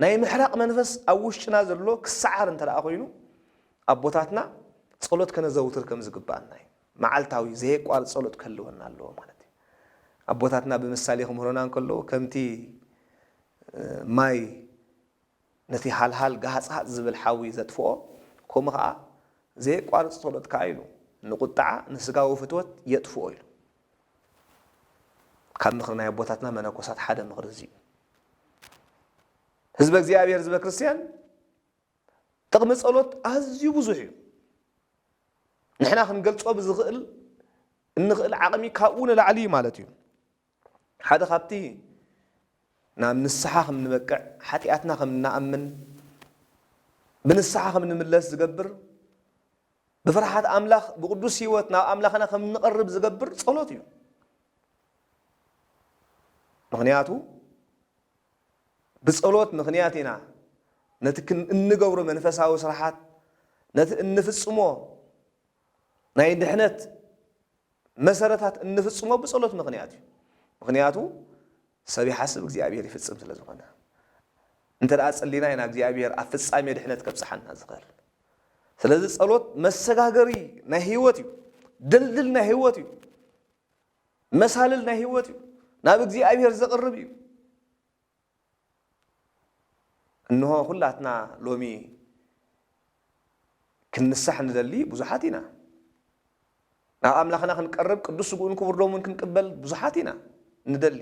ናይ ምሕራቕ መንፈስ ኣብ ውሽጥና ዘሎ ክሰዓር እንተደኣ ኮይኑ ኣቦታትና ጸሎት ከነዘውትር ከም ዝግብኣና እዩ። መዓልታዊ ዘየቋርጽ ጸሎት ክህልወና ኣለዎ ማለት እዩ። ኣቦታትና ብምሳሌ ክምህሩና እንከለዉ ከምቲ ማይ ነቲ ሃልሃል ጋሃጽሃጽ ዝብል ሓዊ ዘጥፍኦ ከምኡ ከኣ ዘየቋርጽ ጸሎት ከኣ ኢሉ ንቁጥዓ ንስጋዊ ፍትወት የጥፍኦ ኢሉ። ካብ ምኽሪ ናይ ኣቦታትና መነኮሳት ሓደ ምኽሪ እዚ እዩ። ህዝበ እግዚኣብሔር ህዝበ ክርስቲያን ጥቕሚ ጸሎት ኣዝዩ ብዙሕ እዩ። ንሕና ክንገልጾ ብዝኽእል እንኽእል ዓቕሚ ካብኡ ንላዕሊ እዩ ማለት እዩ። ሓደ ካብቲ ናብ ንስሓ ከም ንበቅዕ ሓጢኣትና ከም ንኣምን ብንስሓ ከም ንምለስ ዝገብር ብፍርሓት ኣምላኽ ብቕዱስ ህይወት ናብ ኣምላኽና ከም እንቐርብ ዝገብር ጸሎት እዩ። ምኽንያቱ ብጸሎት ምኽንያት ኢና ነቲ ክን እንገብሮ መንፈሳዊ ስራሓት ነቲ እንፍጽሞ ናይ ድሕነት መሰረታት እንፍጽሞ ብጸሎት ምኽንያት እዩ። ምኽንያቱ ሰብ ይሓስብ እግዚኣብሄር ይፍጽም ስለ ዝኾነ እንተ ጸሊና ኢና እግዚኣብሄር ኣብ ፍጻሜ ድሕነት ከብጽሓና ዝኽእል ስለዚ ጸሎት መሰጋገሪ ናይ ህይወት እዩ ድልድል ናይ ህይወት እዩ መሳልል ናይ ህይወት እዩ ናብ እግዚኣብሄር ዘቕርብ እዩ እንሆ ኩላትና ሎሚ ክንንሳሕ ንደሊ ብዙሓት ኢና። ናብ ኣምላኽና ክንቀርብ ቅዱስ ስግኡን ክቡር ደሙን ክንቅበል ብዙሓት ኢና ንደሊ።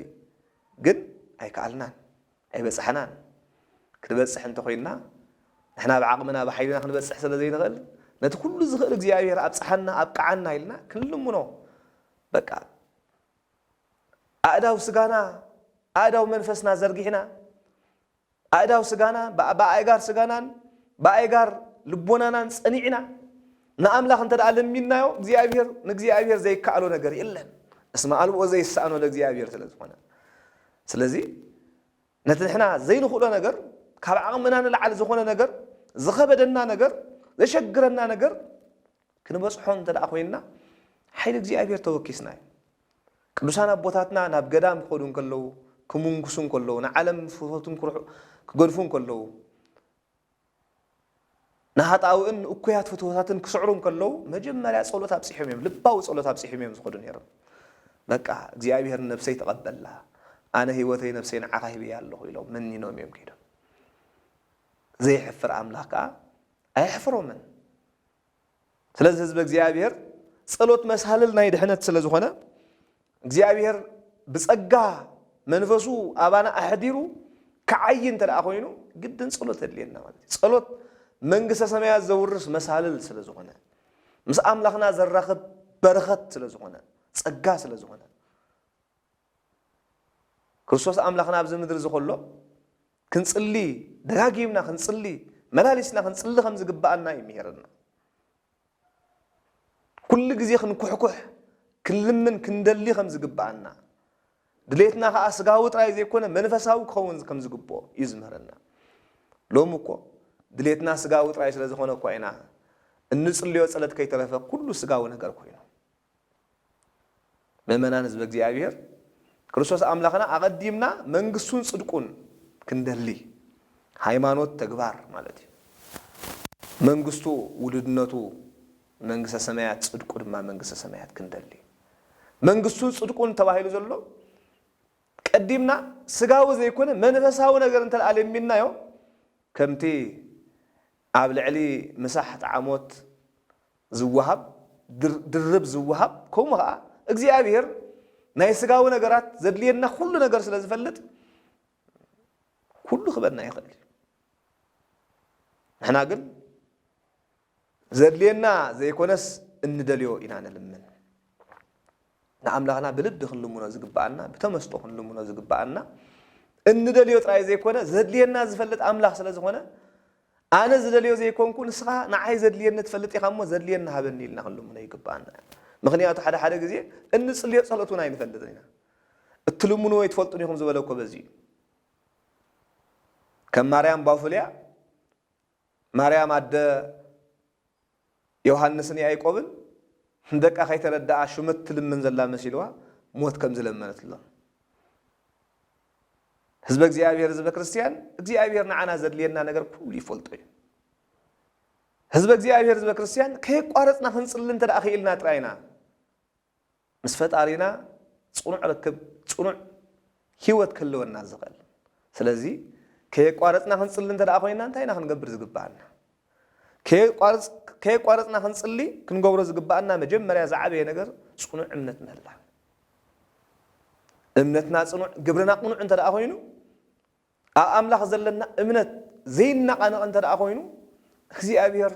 ግን ኣይከኣልናን፣ ኣይበጻሕናን። ክንበጽሕ እንተ ኾይንና ንሕና ብዓቕምና ብሓይልና ክንበጽሕ ስለ ዘይንኽእል ነቲ ኩሉ ዝኽእል እግዚኣብሄር ኣብጽሓና ኣብቅዓና ኢልና ክንልምኖ በቃ ኣእዳው ስጋና ኣእዳው መንፈስና ዘርጊሕና ኣእዳው ስጋና፣ ብኣእጋር ስጋናን ብኣእጋር ልቦናናን ጸኒዕና ንኣምላኽ እንተ ደኣ ለሚንናዮ፣ እግዚኣብሄር ንእግዚኣብሄር ዘይከኣሎ ነገር የለን። እስመ ኣልቦ ዘይሰኣኖ ለእግዚኣብሄር ስለ ዝኾነ። ስለዚ ነቲ ንሕና ዘይንኽእሎ ነገር፣ ካብ ዓቕምና ንላዕሊ ዝኾነ ነገር፣ ዝኸበደና ነገር፣ ዘሸግረና ነገር ክንበጽሖ እንተ ደኣ ኮይንና ሓይሊ እግዚኣብሄር ተወኪስና እዩ። ቅዱሳን ኣቦታትና ናብ ገዳም ክኸዱ እንከለዉ፣ ክምንኩሱ እንከለዉ፣ ንዓለም ፍትወቱን ኩርሑ ክገድፉ እንከለዉ፣ ንሃጣውእን ንእኩያት ፍትወታትን ክስዕሩ እንከለዉ፣ መጀመርያ ጸሎት ኣብጺሖም እዮም፣ ልባዊ ጸሎት ኣብጺሒም እዮም ዝኸዱ ነይሮም። በቃ እግዚኣብሔር ንነብሰይ ተቐበላ፣ ኣነ ህይወተይ ነብሰይ ንዓኻ ሂበያ ኣለኹ ኢሎም መኒኖም እዮም ከይዶም። ዘየሕፍር ኣምላኽ ከኣ ኣየሕፍሮምን። ስለዚ ህዝበ እግዚኣብሔር ጸሎት መሳልል ናይ ድሕነት ስለ ዝኾነ እግዚኣብሔር ብጸጋ መንፈሱ ኣባና ኣሕዲሩ ክዓይ እንተ ደኣ ኮይኑ ግድን ጸሎት የድልየና ማለት እዩ ጸሎት መንግስተ ሰማያት ዘውርስ መሳልል ስለ ዝኾነ ምስ ኣምላኽና ዘራኽብ በረኸት ስለ ዝኾነ ጸጋ ስለ ዝኾነ ክርስቶስ ኣምላኽና ኣብዚ ምድሪ እዚ ከሎ ክንጽሊ ደጋጊምና ክንጽሊ መላሊስና ክንጽሊ ከም ዝግባኣና እዩ ምሄረና። ኩሉ ግዜ ክንኩሕኩሕ ክንልምን ክንደሊ ከም ዝግባኣና ድሌትና ከዓ ስጋዊ ጥራይ ዘይኮነ መንፈሳዊ ክኸውን ከም ዝግብኦ እዩ ዝምህረና። ሎሚ እኮ ድሌትና ስጋዊ ጥራይ ስለ ዝኾነ እኳ ኢና እንጽልዮ ጸለት ከይተረፈ ኩሉ ስጋዊ ነገር ኮይኑ ምእመናን ህዝበ እግዚኣብሔር ክርስቶስ ኣምላኽና ኣቐዲምና መንግስቱን ጽድቁን ክንደሊ ሃይማኖት ተግባር ማለት እዩ። መንግስቱ ውሉድነቱ መንግስተ ሰማያት ጽድቁ ድማ መንግስተ ሰማያት ክንደሊ መንግስቱን ጽድቁን ተባሂሉ ዘሎ ቀዲምና ስጋዊ ዘይኮነ መንፈሳዊ ነገር እንተ ለሚናዮ ከምቲ ኣብ ልዕሊ ምሳሕ ጣዕሞት ዝወሃብ ድርብ ዝወሃብ ከምኡ ከኣ እግዚኣብሄር ናይ ስጋዊ ነገራት ዘድልየና ኩሉ ነገር ስለ ዝፈልጥ ኩሉ ክበና ይኽእል እዩ ንሕና ግን ዘድልየና ዘይኮነስ እንደልዮ ኢና ንልምን ንኣምላኽና ብልቢ ክንልምኖ ዝግብኣና፣ ብተመስጦ ክንልምኖ ዝግብኣና፣ እንደልዮ ጥራይ ዘይኮነ ዘድልየና ዝፈልጥ ኣምላኽ ስለ ዝኾነ፣ ኣነ ዝደልዮ ዘይኮንኩ ንስኻ ንዓይ ዘድልየኒ ትፈልጥ ኢኻ እሞ ዘድልየኒ ሃበኒ ኢልና ክንልምኖ ይግብኣና እዩ። ምኽንያቱ ሓደ ሓደ ግዜ እንጽልዮ ጸሎት እውን ኣይንፈልጥን ኢና። እትልምንዎ ኣይትፈልጡን ኢኹም ዝበለ እኮ በዚ እዩ። ከም ማርያም ባፉልያ ማርያም ኣደ ዮሃንስን ያእቆብን ንደቃ ከይተረደኣ ሹመት ትልምን ዘላ መሲልዋ ሞት ከም ዝለመነትሎም ህዝበ እግዚኣብሔር ህዝበ ክርስቲያን እግዚኣብሔር ንዓና ዘድልየና ነገር ኩሉ ይፈልጦ እዩ ህዝበ እግዚኣብሔር ህዝበ ክርስቲያን ከየቋረፅና ክንፅሊ እንተ ክኢልና ጥራይና ምስ ፈጣሪና ጽኑዕ ርክብ ጽኑዕ ሂወት ክህልወና ዝኽእል ስለዚ ከየቋረጽና ክንጽሊ እንተ ኮይና እንታይ ኢና ክንገብር ዝግብኣና ከየቋረጽና ክንጽሊ ክንገብሮ ዝግብኣና መጀመርያ ዝዓበየ ነገር ጽኑዕ እምነት ምህላው እምነትና ጽኑዕ ግብርና ቅኑዕ እንተ ኮይኑ ኣብ ኣምላኽ ዘለና እምነት ዘይነቓነቕ እንተ ደኣ ዀይኑ፣ እግዚኣብሄር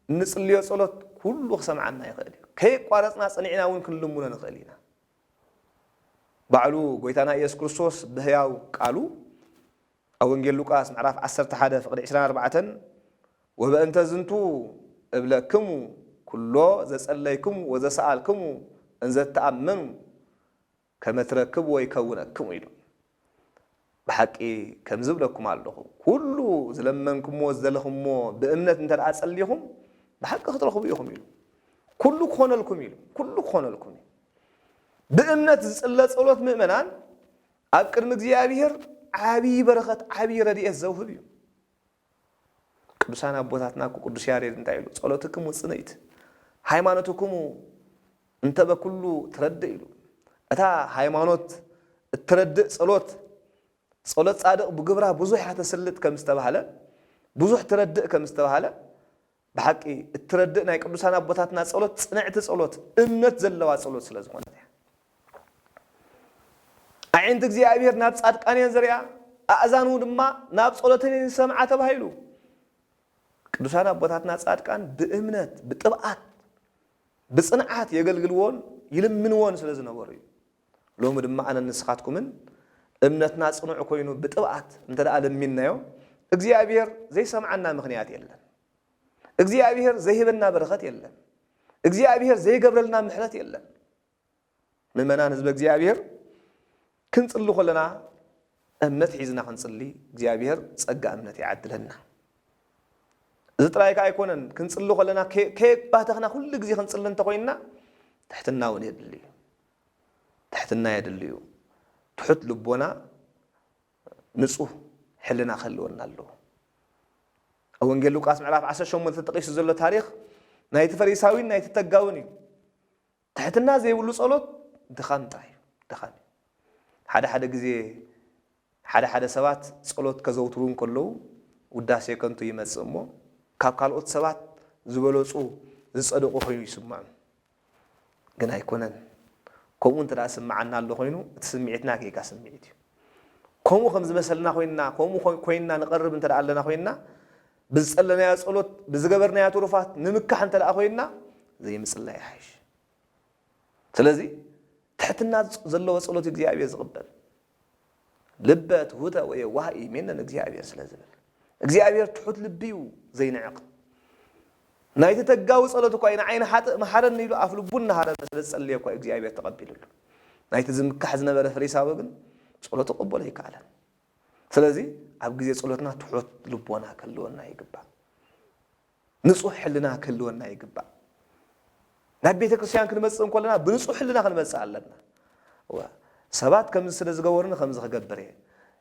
እንጽልዮ ጸሎት ኵሉ ኺሰምዓና ይኽእል እዩ። ከየቋረጽና ጸኒዕና እውን ክንልምኖ ንኽእል ኢና። ባዕሉ ጐይታና ኢየሱስ ክርስቶስ ብህያው ቃሉ፣ ኣብ ወንጌል ሉቃስ ምዕራፍ ዓሰርተ ሓደ ፍቕዲ ዕስራን ኣርባዕተን፣ ወበእንተ ዝንቱ እብለክሙ፣ ኵሎ ዘጸለይክሙ ወዘሰኣልክሙ እንዘ ትኣመኑ፣ ከምእትረክብ ወይ ከውነክም ኢሉ። ብሓቂ ከምዚ እብለኩም ኣሎኹ፣ ኩሉ ዝለመንኩምዎ ዝደለኹምዎ ብእምነት እንተ ደኣ ጸሊኹም፣ ብሓቂ ክትረኽቡ ኢኹም ኢሉ። ኩሉ ክኾነልኩም ኢሉ፣ ኩሉ ክኾነልኩም እዩ። ብእምነት ዝጽለ ጸሎት ምእመናን ኣብ ቅድሚ እግዚኣብሔር ዓቢይ በረኸት ዓቢይ ረድኤት ዘውህብ እዩ። ቅዱሳን ኣቦታትና እኮ ቅዱስ ያሬድ እንታይ ኢሉ ጸሎትክሙ ጽንዕት ሃይማኖትክሙ እንተ በኩሉ ትረድእ ኢሉ እታ ሃይማኖት እትረድእ ጸሎት ጸሎት ጻድቕ ብግብራ ብዙሕ እያ ተስልጥ ከም ዝተባህለ ብዙሕ ትረድእ ከም ዝተባህለ ብሓቂ እትረድእ ናይ ቅዱሳን ኣቦታትና ጸሎት ጽንዕቲ ጸሎት እምነት ዘለዋ ጸሎት ስለ ዝኾነት እያ። ኣዒንቲ እግዚኣብሔር ናብ ጻድቃን እየን ዝሪኣ ኣእዛኑ ድማ ናብ ጸሎተን እየን ዝሰምዓ ተባሂሉ። ቅዱሳን ኣቦታትና ጻድቃን ብእምነት ብጥብዓት ብጽንዓት የገልግልዎን ይልምንዎን ስለ ዝነበሩ እዩ። ሎሚ ድማ ኣነን ንስኻትኩምን እምነትና ጽኑዕ ኮይኑ ብጥብኣት እንተደኣ ለሚንናዮ እግዚኣብሄር ዘይሰምዓና ምኽንያት የለን። እግዚኣብሄር ዘይህበና በረኸት የለን። እግዚኣብሄር ዘይገብረልና ምሕረት የለን። ምእመናን ህዝበ እግዚኣብሄር ክንጽሊ ከለና እምነት ሒዝና ክንጽሊ እግዚኣብሄር ጸጋ እምነት ይዓድለና እዚ ጥራይ ከዓ ኣይኮነን ክንጽሊ ከለና ከየባተኽና ኩሉ ግዜ ክንጽሊ እንተኮይንና ትሕትና እውን የድሊ እዩ ትሕትና የድሊ'ዩ። ትሑት ልቦና ንጹህ ሕልና ክህልወና ኣለዎ። ኣብ ወንጌል ሉቃስ ምዕራፍ ዓሰርተ ሸሞንተ ተጠቒሱ ዘሎ ታሪኽ ናይቲ ፈሪሳዊን ናይቲ ተጋውን እዩ። ትሕትና ዘይብሉ ጸሎት ድኻም ጥራይ እዩ፣ ድኻም እዩ። ሓደ ሓደ ግዜ ሓደ ሓደ ሰባት ጸሎት ከዘውትሩ እንከለዉ ውዳሴ ከንቱ ይመጽእ እሞ ካብ ካልኦት ሰባት ዝበለጹ ዝጸደቁ ኮይኑ ይስምዖም ግን ኣይኮነን ከምኡ እንተ ዝስምዓና ኣሎ ኮይኑ እቲ ስምዒትና ጌጋ ስምዒት እዩ ከምኡ ከም ዝመሰልና ኮይንና ከምኡ ኮይንና ንቐርብ እንተ ኣለና ኮይንና ብዝጸለናዮ ጸሎት ብዝገበርናዮ ትሩፋት ንምካሕ እንተ ኮይንና ዘይምጽላይ ይሓይሽ ስለዚ ትሕትና ዘለዎ ጸሎት እግዚኣብሔር ዝቕበል ልበ ትሑተ ወየዋህ እዩ ሜን ንእግዚኣብሔር ስለ ዝብል እግዚኣብሔር ትሑት ልቢ እዩ ዘይንዕቅ ናይቲ ተጋዊ ጸሎት እኳ እዩ ንዓይኒ ሓጥእ መሓረኒ ኢሉ ኣፍ ልቡ እናሃረመ ስለ ዝጸለየ እኳ እግዚኣብሔር ተቐቢሉሉ ናይቲ ዝምካሕ ዝነበረ ፈሪሳዊ ግን ጸሎቱ ቅቡል ኣይከኣለን ስለዚ ኣብ ግዜ ጸሎትና ትሑት ልቦና ከልወና ይግባእ ንጹህ ሕልና ክህልወና ይግባእ። ናብ ቤተ ክርስቲያን ክንመጽእ እንኮለና ብንጹህ ሕልና ክንመጽእ ኣለና። እወ ሰባት ከምዚ ስለ ዝገበሩኒ ከምዚ ክገብር እየ።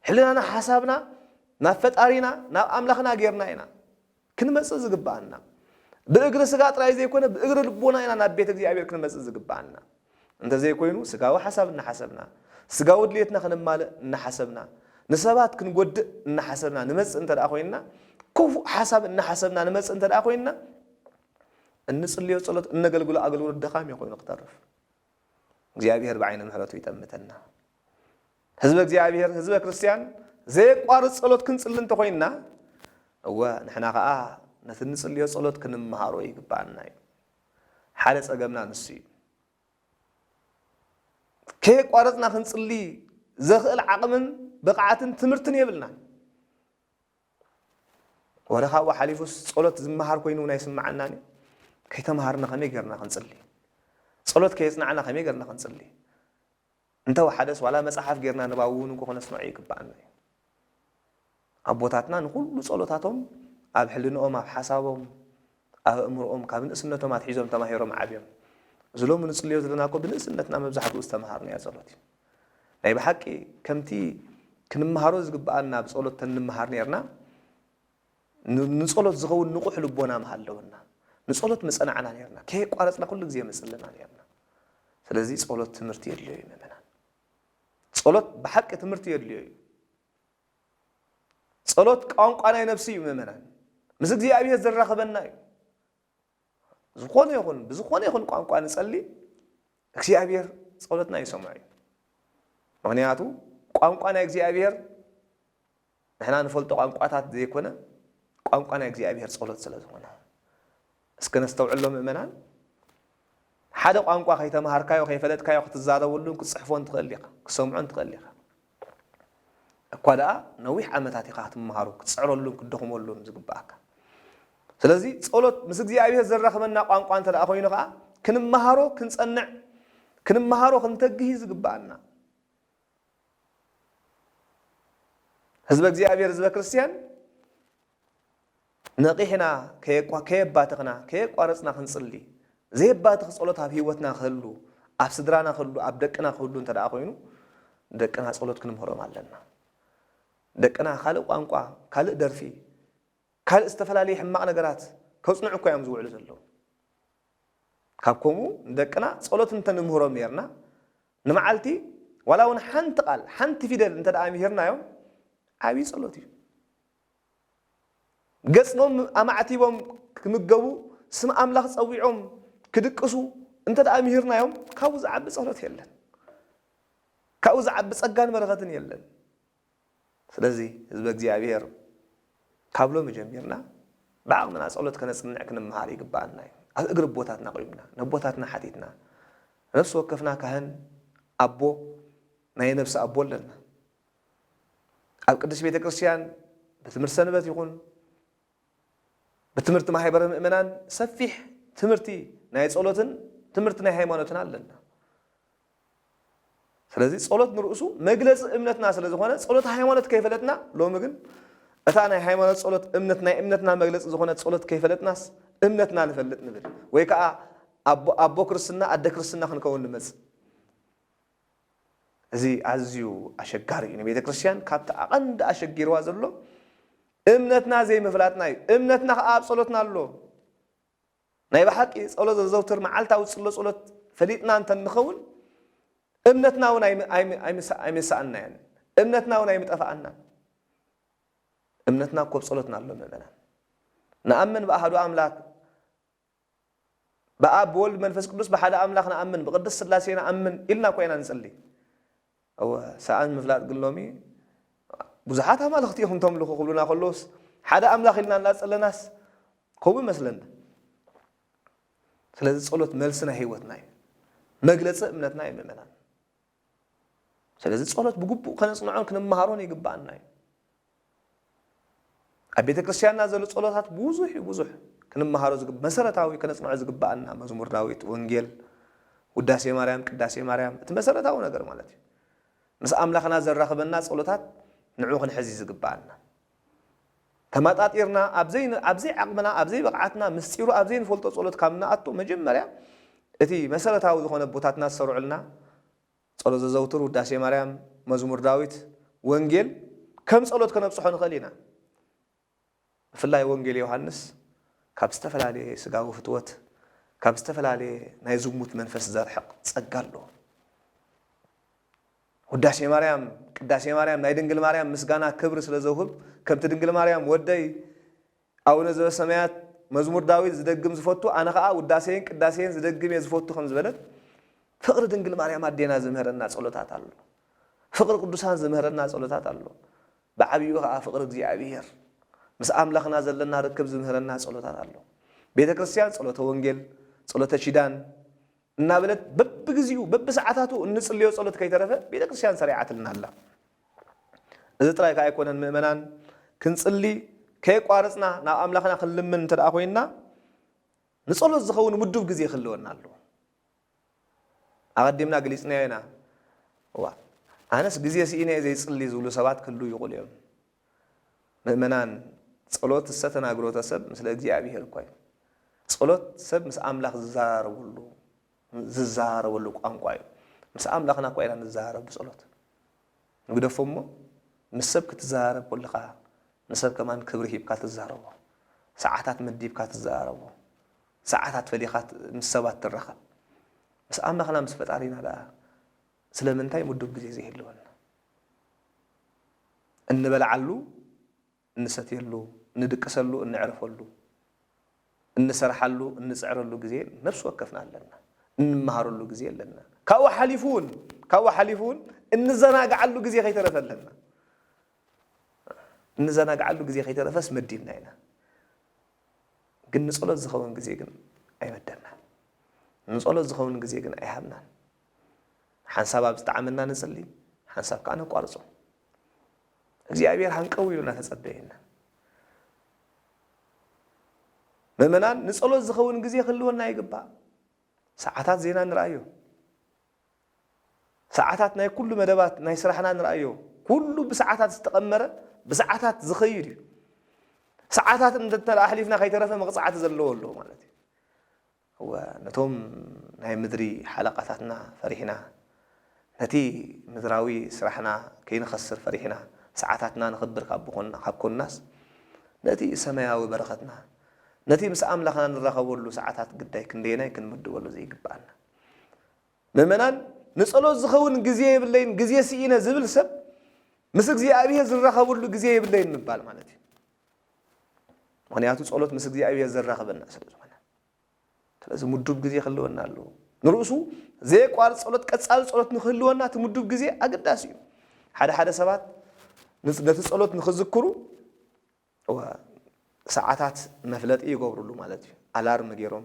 ሕልናና ሓሳብና ናብ ፈጣሪና ናብ ኣምላኽና ጌርና ኢና ክንመጽእ ዝግብኣና። ብእግሪ ስጋ ጥራይ ዘይኮነ ብእግሪ ልቦና ኢና ናብ ቤተ እግዚኣብሔር ክንመጽእ ዝግብኣና። እንተዘይኮይኑ ስጋዊ ሓሳብ እናሓሰብና፣ ስጋዊ ድሌትና ክነማልእ እናሓሰብና፣ ንሰባት ክንጎድእ እናሓሰብና ንመጽእ እንተደኣ ኮይንና፣ ክፉእ ሓሳብ እናሓሰብና ንመጽእ እንተደኣ ኮይንና፣ እንጽልዮ ጸሎት፣ እነገልግሎ ኣገልግሎት ደኻም እዩ ኮይኑ ክተርፍ። እግዚኣብሔር ብዓይነ ምሕረቱ ይጠምተና። ህዝበ እግዚኣብሔር፣ ህዝበ ክርስቲያን ዘየቋርጽ ጸሎት ክንጽሊ እንተኾይንና፣ እወ ንሕና ከኣ ነቲ እንጽልዮ ጸሎት ክንመሃሮ ይግብኣና እዩ። ሓደ ጸገምና ንሱ እዩ። ከየቋረጽና ክንጽሊ ዘኽእል ዓቕምን ብቕዓትን ትምህርትን የብልናን። ወረ ካብኡ ሓሊፉስ ጸሎት ዝመሃር ኮይኑ እውን ኣይስምዓናን እዩ። ከይተምሃርና ከመይ ጌርና ክንጽሊ? ጸሎት ከየጽናዕና ከመይ ጌርና ክንጽሊ? እንተ ወሓደስ ዋላ መጽሓፍ ጌርና ንባዊ ውን እንኮ ክነስምዖ ይግብኣና እዩ። ኣቦታትና ንኹሉ ጸሎታቶም ኣብ ሕልንኦም ኣብ ሓሳቦም ኣብ ኣእምርኦም ካብ ንእስነቶም ኣትሒዞም ተማሂሮም ዓብዮም። እዚ ሎሚ ንጽልዮ ዘለና እኮ ብንእስነትና መብዛሕትኡ ዝተመሃርናዮ ጸሎት እዩ። ናይ ብሓቂ ከምቲ ክንመሃሮ ዝግብኣና ብጸሎት ተንመሃር ኔርና፣ ንጸሎት ዝኸውን ንቑሕ ልቦና ምሃለወና፣ ንጸሎት ምጸናዕና ኔርና፣ ከየቋረጽና ኩሉ ግዜ ምጽለና ኔርና። ስለዚ ጸሎት ትምህርቲ የድልዮ እዩ ምእመናን። ጸሎት ብሓቂ ትምህርቲ የድልዮ እዩ። ጸሎት ቋንቋ ናይ ነብሲ እዩ ምእመናን። ምስ እግዚኣብሔር ዘራኽበና እዩ። ዝኾነ ይኹን ብዝኾነ ይኹን ቋንቋ ንጸሊ እግዚኣብሔር ጸሎትና ይሰምዖ እዩ ምክንያቱ ቋንቋ ናይ እግዚኣብሔር ንሕና ንፈልጦ ቋንቋታት ዘይኮነ ቋንቋ ናይ እግዚኣብሔር ጸሎት ስለ ዝኾነ እስኪ ነስተውዕሎ ምእመናን ሓደ ቋንቋ ከይተምሃርካዮ ከይፈለጥካዮ ክትዛረበሉን ክትፅሕፎን ትኽእል ኢኻ ክሰምዖን ትኽእል ኢኻ እኳ ደኣ ነዊሕ ዓመታት ኢኻ ክትመሃሮ፣ ክትጽዕረሉን ክትደኽመሉን ዝግብኣካ። ስለዚ ጸሎት ምስ እግዚኣብሄር ዘራኽበና ቋንቋ እንተ ደኣ ኮይኑ ከኣ ክንመሃሮ ክንጸንዕ ክንመሃሮ ክንተግህ እዩ ዝግብኣና። ህዝበ እግዚኣብሄር ህዝበ ክርስትያን ነቒሕና ከየባተኽና ከየቋረጽና ክንጽሊ፣ ዘየባትኽ ጸሎት ኣብ ህይወትና ክህሉ፣ ኣብ ስድራና ክህሉ፣ ኣብ ደቅና ክህሉ እንተደኣ ኮይኑ፣ ንደቅና ጸሎት ክንምህሮም ኣለና። ደቅና ካልእ ቋንቋ፣ ካልእ ደርፊ፣ ካልእ ዝተፈላለየ ሕማቕ ነገራት ከጽንዑ እኳ እዮም ዝውዕሉ ዘለዉ። ካብ ከምኡ ንደቅና ጸሎት እንተ ንምህሮም ኔርና፣ ንመዓልቲ ዋላ እውን ሓንቲ ቃል፣ ሓንቲ ፊደል እንተደኣ ምሂርናዮም ዓብዪ ጸሎት እዩ። ገጾም ኣማዕቲቦም ክምገቡ፣ ስም ኣምላኽ ጸዊዖም ክድቅሱ እንተደኣ ምሂርናዮም፣ ካብኡ ዝዓቢ ጸሎት የለን። ካብኡ ዝዓቢ ጸጋን በረኸትን የለን። ስለዚ ህዝበ እግዚኣብሔር ካብ ሎሚ ጀሚርና ብዓቕምና ጸሎት ከነጽንዕ ክንመሃር ይግብኣና እዩ። ኣብ እግሪ ኣቦታትና ቆይምና ነቦታትና ሓቲትና ነፍሲ ወከፍና ካህን ኣቦ ናይ ነብሲ ኣቦ ኣለና። ኣብ ቅድስት ቤተ ክርስቲያን ብትምህርቲ ሰንበት ይኹን ብትምህርቲ ማሕበረ ምእመናን ሰፊሕ ትምህርቲ ናይ ጸሎትን ትምህርቲ ናይ ሃይማኖትን ኣለና። ስለዚ ጸሎት ንርእሱ መግለፂ እምነትና ስለ ዝኾነ ጸሎት ሃይማኖት ከይፈለጥና ሎሚ ግን እታ ናይ ሃይማኖት ጸሎት እምነት ናይ እምነትና መግለፂ ዝኾነ ጸሎት ከይፈለጥናስ እምነትና ንፈልጥ ንብል ወይ ከዓ ኣቦ ክርስትና ኣደ ክርስትና ክንከውን ንመፅእ እዚ ኣዝዩ ኣሸጋሪ እዩ ንቤተክርስትያን ካብቲ ኣቐንዲ ኣሸጊርዋ ዘሎ እምነትና ዘይምፍላጥና እዩ እምነትና ከኣ ኣብ ጸሎትና ኣሎ ናይ ብሓቂ ጸሎት ዘዘውትር መዓልታዊ ጽሎ ጸሎት ፈሊጥና እንተ ንኸውን እምነትና እውን ኣይምሰኣናያን እምነትና እውን ኣይምጠፋኣናን እምነትና እኮ ብ ጸሎትና ኣሎ ምእመናን ንኣምን ብኣሃዱ ኣምላክ ብኣብ ብወልድ መንፈስ ቅዱስ ብሓደ ኣምላኽ ንኣምን ብቅድስት ስላሴ ንኣምን ኢልና እኮ ኢና ንጽሊ እወ ሰኣን ምፍላጥ ግን ሎሚ ብዙሓት ኣማልኽቲ ኢኹም ተምልኹ ክብሉና ከለውስ ሓደ ኣምላኽ ኢልና እናጸለናስ ከምኡ ይመስለና ስለዚ ጸሎት መልሲ ናይ ህይወትና እዩ መግለጺ እምነትና እዩ ምእመናን ስለዚ ጸሎት ብግቡእ ከነጽንዖን ክንመሃሮን ይግብኣና እዩ። ኣብ ቤተ ክርስቲያንና ዘሎ ጸሎታት ብዙሕ እዩ ብዙሕ ክንመሃሮ ዝግብ መሰረታዊ ከነጽንዖ ዝግብኣና መዝሙር ዳዊት፣ ወንጌል፣ ውዳሴ ማርያም፣ ቅዳሴ ማርያም እቲ መሰረታዊ ነገር ማለት እዩ። ምስ ኣምላኽና ዘራኽበና ጸሎታት ንዑ ክንሕዚ ዝግብኣና። ተማጣጢርና ኣብ ዘይ ኣብ ዘይ ዓቕምና ኣብ ዘይ ብቕዓትና ምስጢሩ ኣብ ዘይንፈልጦ ጸሎት ካብ ንኣቱ መጀመርያ እቲ መሰረታዊ ዝኾነ ኣቦታትና ዝሰርዑልና ጸሎት ዘዘውትር ውዳሴ ማርያም መዝሙር ዳዊት ወንጌል ከም ጸሎት ከነብጽሖ ንኽእል ኢና ብፍላይ ወንጌል ዮሃንስ ካብ ዝተፈላለየ ስጋዊ ፍትወት ካብ ዝተፈላለየ ናይ ዝሙት መንፈስ ዘርሕቕ ጸጋ ኣለዎ ውዳሴ ማርያም፣ ቅዳሴ ማርያም፣ ናይ ድንግል ማርያም ምስጋና ክብሪ ስለ ዘውህብ፣ ከምቲ ድንግል ማርያም ወደይ ኣቡነ ዘበሰማያት መዝሙር ዳዊት ዝደግም ዝፈቱ ኣነ ከኣ ውዳሴይን ቅዳሴይን ዝደግም እየ ዝፈቱ ከም ዝበለት ፍቕሪ ድንግል ማርያም ኣዴና ዝምህረና ጸሎታት ኣሎ። ፍቕሪ ቅዱሳን ዝምህረና ጸሎታት ኣሎ። ብዓቢኡ ከኣ ፍቕሪ እግዚኣብሔር ምስ ኣምላኽና ዘለና ርክብ ዝምህረና ጸሎታት ኣሎ። ቤተ ክርስቲያን ጸሎተ ወንጌል፣ ጸሎተ ኪዳን፣ እናበለት በብግዚኡ በብሰዓታቱ እንጽልዮ ጸሎት ከይተረፈ ቤተክርስትያን ሰሪዓትልና ኣላ። እዚ ጥራይ ከኣ ኣይኮነን ምእመናን ክንጽሊ ከየቋረጽና ናብ ኣምላኽና ክንልምን እንተደኣ ኮይንና ንጸሎት ዝኸውን ምዱብ ግዜ ክህልወና ኣለዎ። ኣቐዲምና ገሊጽናዮ ኢና እዋ ኣነስ ግዜ ስኢነ እየ ዘይጽሊ ዝብሉ ሰባት ክህልዉ ይኽእሉ እዮም። ምእመናን ጸሎት እሰ ተናግሮተ ሰብ ምስለ እግዚኣብሔር ኮይኑ። ጸሎት ሰብ ምስ ኣምላኽ ዝዘራረበሉ ዝዘራረበሉ ቋንቋ እዩ። ምስ ኣምላኽና እኳ ኢና ንዘራረብ ብጸሎት። ንግደፎ እሞ ምስ ሰብ ክትዘራረብ ኮለኻ ንሰብ ከማን ክብሪ ሂብካ ትዛረቦ። ሰዓታት መዲብካ ትዘራረቦ። ሰዓታት ፈሊኻ ምስ ሰባት ትራኸብ። ምስ ኣምላኽና ምስ ፈጣሪና ደኣ ስለምንታይ ምዱብ ግዜ ዘይህልወና? እንበልዓሉ፣ እንሰትየሉ፣ እንድቅሰሉ፣ እንዕርፈሉ፣ እንሰርሓሉ፣ እንጽዕረሉ ግዜ ነፍሲ ወከፍና ኣለና። እንመሃረሉ ግዜ ኣለና። ካብኡ ሓሊፉ እውን ካብኡ ሓሊፉ እውን እንዘናግዓሉ ግዜ ከይተረፈ ኣለና። እንዘናግዓሉ ግዜ ከይተረፈስ መዲብና ኢና። ግን ንጸሎት ዝኸውን ግዜ ግን ኣይመደብናን። ንጸሎት ዝኸውን ግዜ ግን ኣይሃብናን። ሓንሳብ ኣብ ዝጠዓመና ንጽሊ ሓንሳብ ከኣ ነቋርጾ። እግዚኣብሔር ሃንቀው ኢሉ እናተጸበየ ኢና። ምእመናን ንጸሎት ዝኸውን ግዜ ክህልወና ይግባእ። ሰዓታት ዜና ንርኣዮ። ሰዓታት ናይ ኩሉ መደባት ናይ ስራሕና ንርኣዮ። ኩሉ ብሰዓታት ዝተቐመረ ብሰዓታት ዝኸይድ እዩ። ሰዓታት እንተ ኣሕሊፍና ከይተረፈ መቕጻዕቲ ዘለዎ ኣለዎ ማለት እዩ። እወ ነቶም ናይ ምድሪ ሓለቓታትና ፈሪሕና፣ ነቲ ምድራዊ ስራሕና ከይንኸስር ፈሪሕና፣ ሰዓታትና ንኽብር ካብ ኮንናስ፣ ነቲ ሰማያዊ በረኸትና፣ ነቲ ምስ ኣምላኽና ንራኸበሉ ሰዓታት ግዳይ ክንደየናይ ክንምድበሉ ዘይግብኣና። ምእመናን፣ ንጸሎት ዝኸውን ግዜ የብለይን፣ ግዜ ስኢነ ዝብል ሰብ፣ ምስ እግዚኣብሔር ዝራኸበሉ ግዜ የብለይን ምባል ማለት እዩ። ምኽንያቱ ጸሎት ምስ እግዚኣብሔር ዘራኽበና ስለ ዝኾነ። ስለዚ ምዱብ ግዜ ክህልወና ኣለዎ። ንርእሱ ዘየቋርጽ ጸሎት፣ ቀጻሊ ጸሎት ንኽህልወና እቲ ምዱብ ግዜ ኣገዳሲ እዩ። ሓደ ሓደ ሰባት ነቲ ጸሎት ንኽዝክሩ ሰዓታት መፍለጢ ይገብርሉ ማለት እዩ። ኣላርም ገይሮም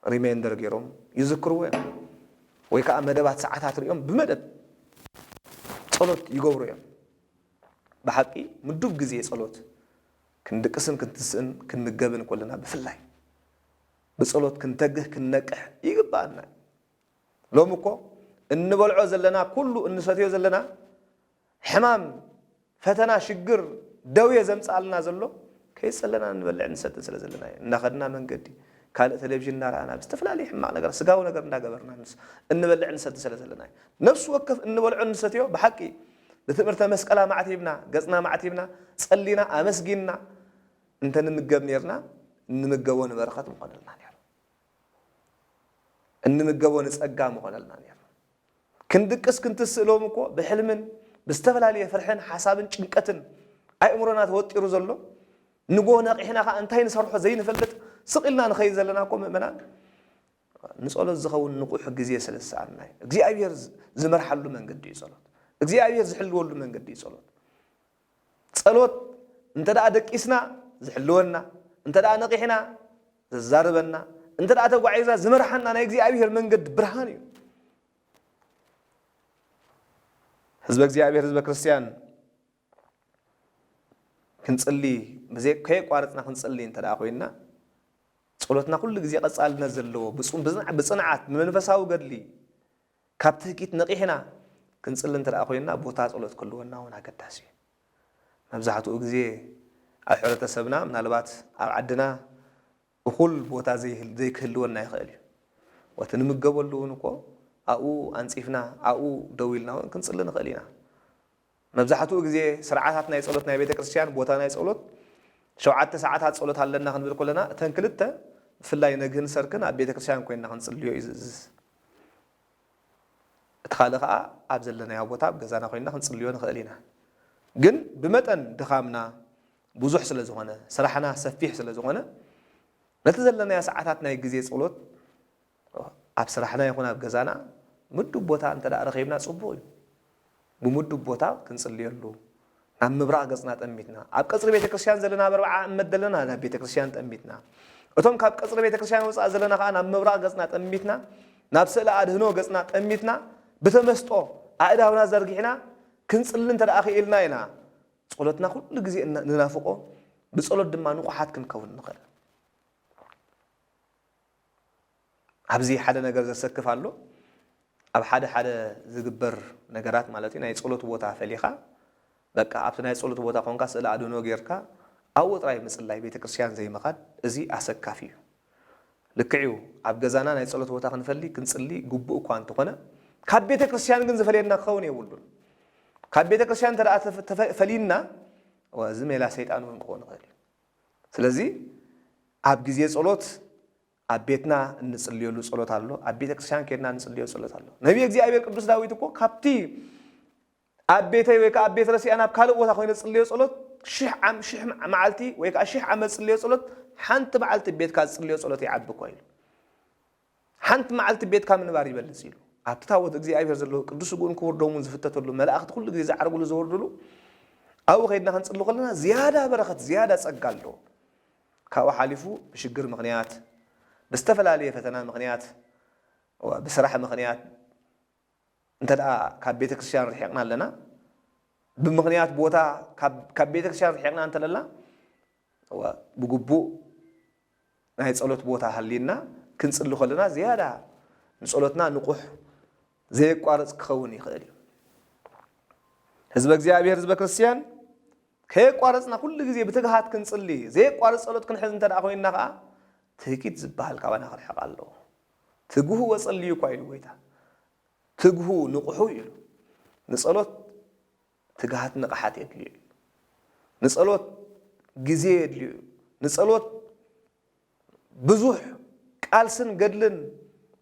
ሪሜንደር ገይሮም ይዝክርዎ እዮም። ወይ ከዓ መደባት ሰዓታት ሪኦም ብመደብ ጸሎት ይገብሩ እዮም። ብሓቂ ምዱብ ግዜ ጸሎት ክንድቅስን ክንትስእን ክንምገብን ኮለና ብፍላይ ብጸሎት ክንተግህ ክንነቅሕ ይግብኣና እዩ። ሎሚ እኮ እንበልዖ ዘለና ኩሉ እንሰትዮ ዘለና ሕማም ፈተና ሽግር ደውየ ዘምጽኣልና ዘሎ ከይጸለና እንበልዕን ንሰትን ስለ ዘለና እዩ። እናኸድና መንገዲ ካልእ ቴሌቭዥን እናረኣና ብዝተፈላለየ ሕማቕ ነገራት ስጋዊ ነገር እንዳገበርና እንበልዕን ንሰትን ስለ ዘለና እዩ። ነፍሲ ወከፍ እንበልዖ እንሰትዮ ብሓቂ ብትእምርተ መስቀል ኣማዕቲብና፣ ገጽና ኣማዕቲብና፣ ጸሊና፣ ኣመስጊንና እንተ ንምገብ ኔርና፣ እንምገቦ ንበረኸት ምኾነልና ኔሩ። እንምገቦ ንጸጋ ምኾነልና ኔሩ። ክንድቅስ ክንትስእ ሎሚ እኮ ብሕልምን ብዝተፈላለየ ፍርሕን ሓሳብን ጭንቀትን ኣእምሮና ተወጢሩ ዘሎ ንጎ ነቒሕና ከኣ እንታይ ንሰርሖ ዘይንፈልጥ ስቕ ኢልና ንኸይድ ዘለና እኮ ምእመናን ንጸሎት ዝኸውን ንቑሕ ግዜ ስለ ዝሰኣንና እዩ። እግዚኣብሄር ዝመርሓሉ መንገዲ እዩ ጸሎት። እግዚኣብሄር ዝሕልወሉ መንገዲ እዩ ጸሎት። ጸሎት እንተ ደኣ ደቂስና ዝሕልወና፣ እንተ ደኣ ነቒሕና ዘዛርበና፣ እንተ ደኣ ተጓዒዝና ዝመርሓና ናይ እግዚኣብሄር መንገዲ ብርሃን እዩ። ህዝበ እግዚኣብሄር ህዝበ ክርስትያን ክንጽሊ ብዘይ ከየቋረጽና ክንጽሊ እንተ ደኣ ኮይንና ጸሎትና ኩሉ ግዜ ቀጻልነት ዘለዎ ብጽንዓት ብመንፈሳዊ ገድሊ ካብ ትህኪት ነቂሕና ክንጽሊ እንተ ደኣ ኮይንና ቦታ ጸሎት ክህልወና እውን ኣገዳሲ እዩ። መብዛሕትኡ ግዜ ኣብ ሕብረተሰብና ምናልባት ኣብ ዓድና እኹል ቦታ ዘይክህልወና ይኽእል እዩ። ወቲ ንምገበሉ እውን እኮ ኣብኡ ኣንጺፍና ኣብኡ ደው ኢልና እውን ክንጽሊ ንኽእል ኢና። መብዛሕትኡ ግዜ ስርዓታት ናይ ጸሎት ናይ ቤተ ክርስቲያን ቦታ ናይ ጸሎት ሸውዓተ ሰዓታት ጸሎት ኣለና ክንብል ከሎና እተን ክልተ ብፍላይ ነግህን ሰርክን ኣብ ቤተ ክርስቲያን ኮይንና ክንጽልዮ እዩ ዝእዝዝ። እቲ ካልእ ከኣ ኣብ ዘለናዮ ቦታ ኣብ ገዛና ኮይንና ክንጽልዮ ንኽእል ኢና። ግን ብመጠን ድኻምና ብዙሕ ስለ ዝኾነ ስራሕና ሰፊሕ ስለ ዝኾነ ነቲ ዘለናዮ ሰዓታት ናይ ግዜ ጸሎት ኣብ ስራሕና ይኹን ኣብ ገዛና ምዱብ ቦታ እንተድኣ ረኺብና ጽቡቕ እዩ። ብምዱብ ቦታ ክንጽልየሉ፣ ናብ ምብራቕ ገጽና ጠሚትና፣ ኣብ ቀጽሪ ቤተ ክርስቲያን ዘለና ኣብ ኣርብዓ እመት ዘለና ናብ ቤተ ክርስቲያን ጠሚትና፣ እቶም ካብ ቀጽሪ ቤተ ክርስቲያን ወጻእ ዘለና ከኣ ናብ ምብራቕ ገጽና ጠሚትና፣ ናብ ስእለ ኣድህኖ ገጽና ጠሚትና፣ ብተመስጦ ኣእዳውና ዘርጊሕና ክንጽሊ እንተድኣ ክኢልና ኢና ጸሎትና ኩሉ ግዜ ንናፍቆ፣ ብጸሎት ድማ ንቑሓት ክንከውን ንኽእል። ኣብዚ ሓደ ነገር ዘሰክፍ ኣሎ ኣብ ሓደ ሓደ ዝግበር ነገራት ማለት ናይ ጸሎት ቦታ ፈሊኻ በቃ ኣብቲ ናይ ጸሎት ቦታ ኮንካ ስእለ ኣድህኖ ጌርካ ኣብኡ ጥራይ ምጽላይ ቤተክርስትያን ዘይምኻድ እዚ ኣሰካፊ እዩ ልክዕ እዩ ኣብ ገዛና ናይ ጸሎት ቦታ ክንፈሊ ክንጽሊ ግቡእ እኳ እንተኾነ ካብ ቤተክርስትያን ግን ዝፈልየና ክኸውን የብሉን ካብ ቤተክርስትያን እንተ ፈሊና እዚ ሜላ ሰይጣን እውን ክኸውን ይኽእል እዩ ስለዚ ኣብ ግዜ ጸሎት ኣብ ቤትና እንጽልየሉ ጸሎት ኣሎ፣ ኣብ ቤተ ክርስቲያን ኬድና እንጽልዮ ጸሎት ኣሎ። ነብየ እግዚኣብሔር ቅዱስ ዳዊት እኮ ካብቲ ኣብ ቤተይ ወይ ከኣ ኣብ ቤት ረሲኣን ኣብ ካልእ ቦታ ኮይነ ዝጽልዮ ጸሎት ሽሕ ዓም ሽሕ መዓልቲ ወይ ከኣ ሽሕ ዓመት ዝጽልዮ ጸሎት ሓንቲ መዓልቲ ቤትካ ዝጽልዮ ጸሎት ይዓቢ እኮ ኢሉ ሓንቲ መዓልቲ ቤትካ ምንባር ይበልጽ ኢሉ። ኣብቲ ታቦት እግዚኣብሔር ዘለዎ ቅዱስ ስግኡን ክቡር ደሙን ዝፍተተሉ መላእኽቲ ኩሉ ግዜ ዝዓርግሉ ዝወርድሉ ኣብኡ ከይድና ክንጽሊ ከለና ዝያዳ በረኸት ዝያዳ ጸጋ ኣለዎ። ካብኡ ሓሊፉ ብሽግር ምኽንያት ብዝተፈላለየ ፈተና ምኽንያት ብስራሕ ምኽንያት እንተ ካብ ቤተ ክርስቲያን ርሒቕና ኣለና ብምኽንያት ቦታ ካብ ቤተ ክርስቲያን ርሒቕና እንተለና እወ፣ ብግቡእ ናይ ጸሎት ቦታ ሃልዩና ክንጽሊ ከሎና ዝያዳ ንጸሎትና ንቑሕ ዘየቋርጽ ክኸውን ይኽእል እዩ። ህዝበ እግዚኣብሄር ህዝበ ክርስትያን ከየቋረጽና ኩሉ ግዜ ብትግሃት ክንጽሊ ዘየቋርጽ ጸሎት ክንሕዝ እንተ ኮይንና ከኣ ትህኪት ዝበሃል ካባና ክርሕቕ ኣለዎ። ትግሁ ወጸልዩ እኳ ኢሉ ጎይታ። ትግሁ ንቑሑ ኢሉ ንጸሎት ትግሃት ንቕሓት የድልዮ እዩ። ንጸሎት ግዜ የድልዮ እዩ። ንጸሎት ብዙሕ ቃልስን ገድልን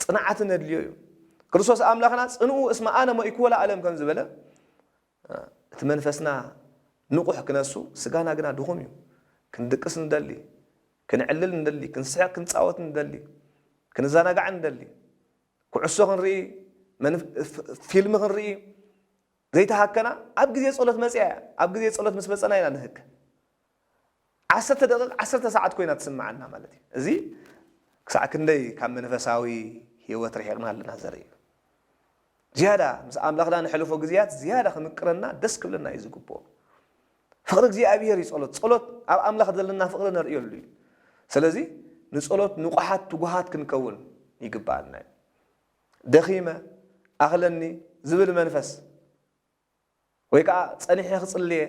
ጽንዓትን የድልዮ እዩ። ክርስቶስ ኣምላኽና ጽንኡ እስመ ኣነ ሞይክዎ ለዓለም ከም ዝበለ እቲ መንፈስና ንቑሕ ክነሱ ስጋና ግና ድኹም እዩ። ክንድቅስ ንደሊ፣ ክንዕልል ንደሊ፣ ክንስሕቕ ክንጻወት ንደሊ፣ ክንዘናጋዕ ንደሊ፣ ኩዕሶ ክንርኢ፣ ፊልም ክንርኢ፣ ዘይተሃከና ኣብ ግዜ ጸሎት መጺኣ እያ። ኣብ ግዜ ጸሎት ምስ መጸና ኢና ንህከ። ዓሰርተ ደቒቕ ዓሰርተ ሰዓት ኮይና ትስምዓና ማለት እዩ። እዚ ክሳዕ ክንደይ ካብ መንፈሳዊ ህይወት ርሒቕና ኣለና ዘርኢ እዩ። ዝያዳ ምስ ኣምላኽና ነሕልፎ ግዜያት ዝያዳ ክምቅረና ደስ ክብለና እዩ ዝግብኦ። ፍቕሪ እግዚኣብሄር እዩ ጸሎት። ጸሎት ኣብ ኣምላኽ ዘለና ፍቕሪ ነርእየሉ እዩ። ስለዚ ንጸሎት ንቑሓት ትጉሃት ክንከውን ይግብኣና እዩ። ደኺመ፣ ኣኽለኒ ዝብል መንፈስ ወይ ከዓ ፀኒሐ ክፅልየ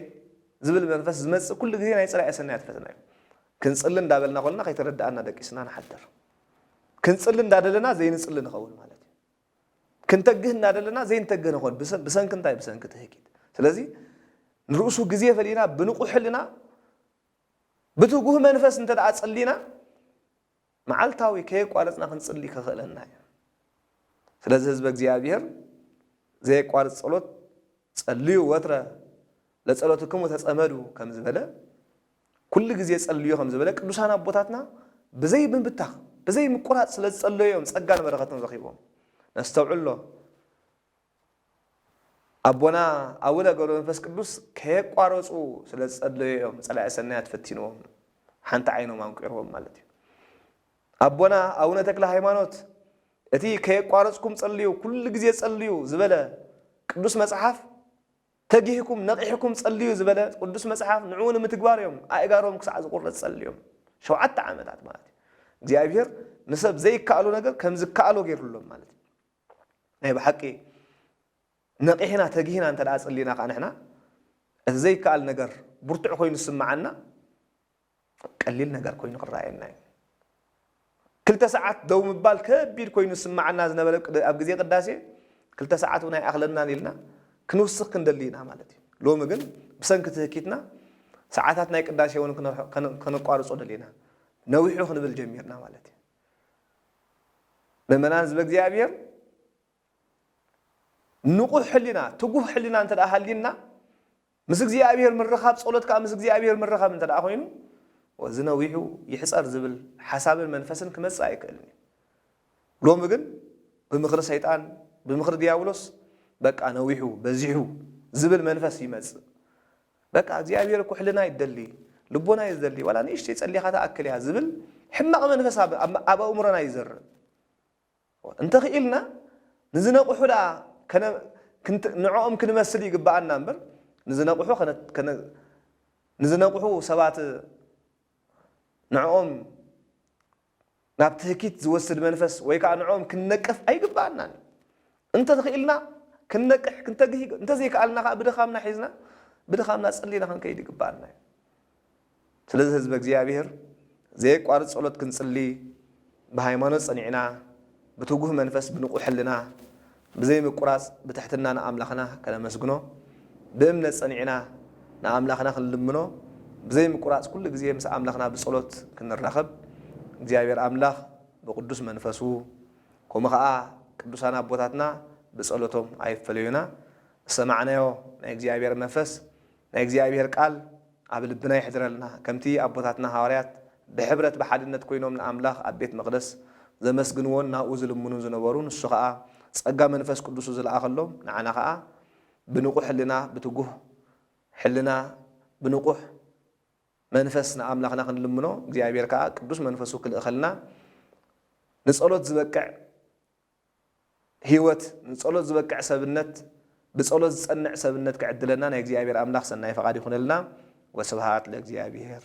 ዝብል መንፈስ ዝመፅእ ኩሉ ግዜ ናይ ፀላኢ ሰናያት ፈተና እዩ። ክንፅሊ እንዳበልና ኮልና ከይተረድኣና ደቂስና ንሓድር። ክንፅሊ እንዳደለና ዘይንፅሊ ንኸውን ማለት ክንተግህ እናደለና ዘይንተግህ ንኾን ብሰንኪ እንታይ ብሰንኪ ትህኪት ስለዚ ንርእሱ ግዜ ፈሊና ብንቑሕ ሕልና ብትጉህ መንፈስ እንተ ደኣ ጸሊና መዓልታዊ ከየቋረጽና ክንጽሊ ከኽእለና እዩ። ስለዚ ህዝበ እግዚኣብሔር ዘየቋርጽ ጸሎት ጸልዩ ወትረ ለጸሎትክሙ ተጸመዱ ከም ዝበለ ኩሉ ግዜ ጸልዩ ከም ዝበለ ቅዱሳን ኣቦታትና ብዘይ ምብታኽ ብዘይ ምቁራጽ ስለ ዝጸለዩ እዮም ጸጋን በረኸትን ረኺቦም። ነስተውዕሎ። ኣቦና ኣቡነ ገብረ መንፈስ ቅዱስ ከየቋረጹ ስለ ዝጸለዩ እዮም ጸላኢ ሰናያት ፈቲንዎም ሓንቲ ዓይኖም ኣንቂርዎም ማለት እዩ። ኣቦና ኣቡነ ተክለ ሃይማኖት እቲ ከየቋረጽኩም ጸልዩ ኩሉ ግዜ ጸልዩ ዝበለ ቅዱስ መጽሓፍ ተጊህኩም ነቒሕኩም ጸልዩ ዝበለ ቅዱስ መጽሓፍ ንዕኡ ንምትግባር እዮም ኣእጋሮም ክሳዕ ዝቑረጽ ጸልዮም ሸውዓተ ዓመታት ማለት እዩ እግዚኣብሄር ንሰብ ዘይከኣሎ ነገር ከም ዝከኣሎ ገይሩሎም ማለት እዩ ናይ ብሓቂ ነቒሕና ተጊህና እንተ ጽሊና ከኣ ንሕና እቲ ዘይከኣል ነገር ብርቱዕ ኮይኑ ዝስምዓና ቀሊል ነገር ኮይኑ ክረኣየና እዩ። ክልተ ሰዓት ደው ምባል ከቢድ ኮይኑ ዝስምዓና ዝነበረ ኣብ ግዜ ቅዳሴ ክልተ ሰዓት እውን ኣይኣኽለናን ኢልና ክንውስኽ ክንደሊ ኢና ማለት እዩ። ሎሚ ግን ብሰንኪ ትህኪትና ሰዓታት ናይ ቅዳሴ እውን ከነቋርጾ ደሊና ነዊሑ ክንብል ጀሚርና ማለት እዩ። ምእመናን ህዝበ እግዚኣብሔር ንቑሕ ሕሊና ትጉህ ሕሊና እንተ ደኣ ሃልዩና ምስ እግዚኣብሔር ምርኻብ ጸሎት ከዓ ምስ እግዚኣብሔር ምርኻብ እንተ ደኣ ኮይኑ ወዚ ነዊሑ ይሕፀር ዝብል ሓሳብን መንፈስን ክመጽእ ኣይክእልን እዩ ሎሚ ግን ብምኽሪ ሰይጣን ብምኽሪ ዲያብሎስ በቃ ነዊሑ በዚሑ ዝብል መንፈስ ይመጽእ በቃ እግዚኣብሔር እኮ ሕልና እዩ ዝደሊ ልቦና እዩ ዝደሊ ዋላ ንእሽተይ ጸሊኻ ትኣክል እያ ዝብል ሕማቕ መንፈስ ኣብ ኣብ ኣእምሮና ይዘርእ እንተኽኢልና ንዝነቕሑ ደኣ ከነ ንዕኦም ክንመስል ይግባኣና እምበር ንዝነቕሑ ከነ ንዝነቕሑ ሰባት ንዕኦም ናብ ትህኪት ዝወስድ መንፈስ ወይ ከኣ ንዕኦም ክንነቅፍ ኣይግብኣናን እዩ። እንተ ኽኢልና ክንነቅሕ ክንተግህ ይግባእ። እንተ ዘይከኣልና ከኣ ብድኻምና ሒዝና ብድኻምና ጸሊና ክንከይድ ይግብኣና እዩ። ስለዚ ህዝበ እግዚኣብሔር ዘየቋርጽ ጸሎት ክንጽሊ ብሃይማኖት ጸኒዕና ብትጉህ መንፈስ ብንቑሕ ሕልና ብዘይምቁራጽ ብትሕትና ንኣምላኽና ከነመስግኖ፣ ብእምነት ጸኒዕና ንኣምላኽና ክንልምኖ፣ ብዘይምቁራጽ ኩሉ ግዜ ምስ ኣምላኽና ብጸሎት ክንራኸብ፣ እግዚኣብሔር ኣምላኽ ብቅዱስ መንፈሱ፣ ከምኡ ከኣ ቅዱሳን ኣቦታትና ብጸሎቶም ኣይፈለዩና። ዝሰማዕናዮ ናይ እግዚኣብሔር መንፈስ ናይ እግዚኣብሔር ቃል ኣብ ልብና የሕድረልና ከምቲ ኣቦታትና ሃዋርያት ብሕብረት ብሓድነት ኮይኖም ንኣምላኽ ኣብ ቤት መቅደስ ዘመስግንዎን ናብኡ ዝልምኑን ዝነበሩ ንሱ ከኣ ጸጋ መንፈስ ቅዱሱ ዝለኣኸሎም ንዓና ከኣ ብንቁሕ ሕልና ብትጉህ ሕልና ብንቁሕ መንፈስ ንኣምላኽና ክንልምኖ እግዚኣብሔር ከኣ ቅዱስ መንፈሱ ክልእኸልና ንጸሎት ዝበቅዕ ህይወት ንጸሎት ዝበቅዕ ሰብነት ብጸሎት ዝጸንዕ ሰብነት ክዕድለና ናይ እግዚኣብሔር ኣምላኽ ሰናይ ፈቓድ ይኹነልና ወስብሃት ለእግዚኣብሔር።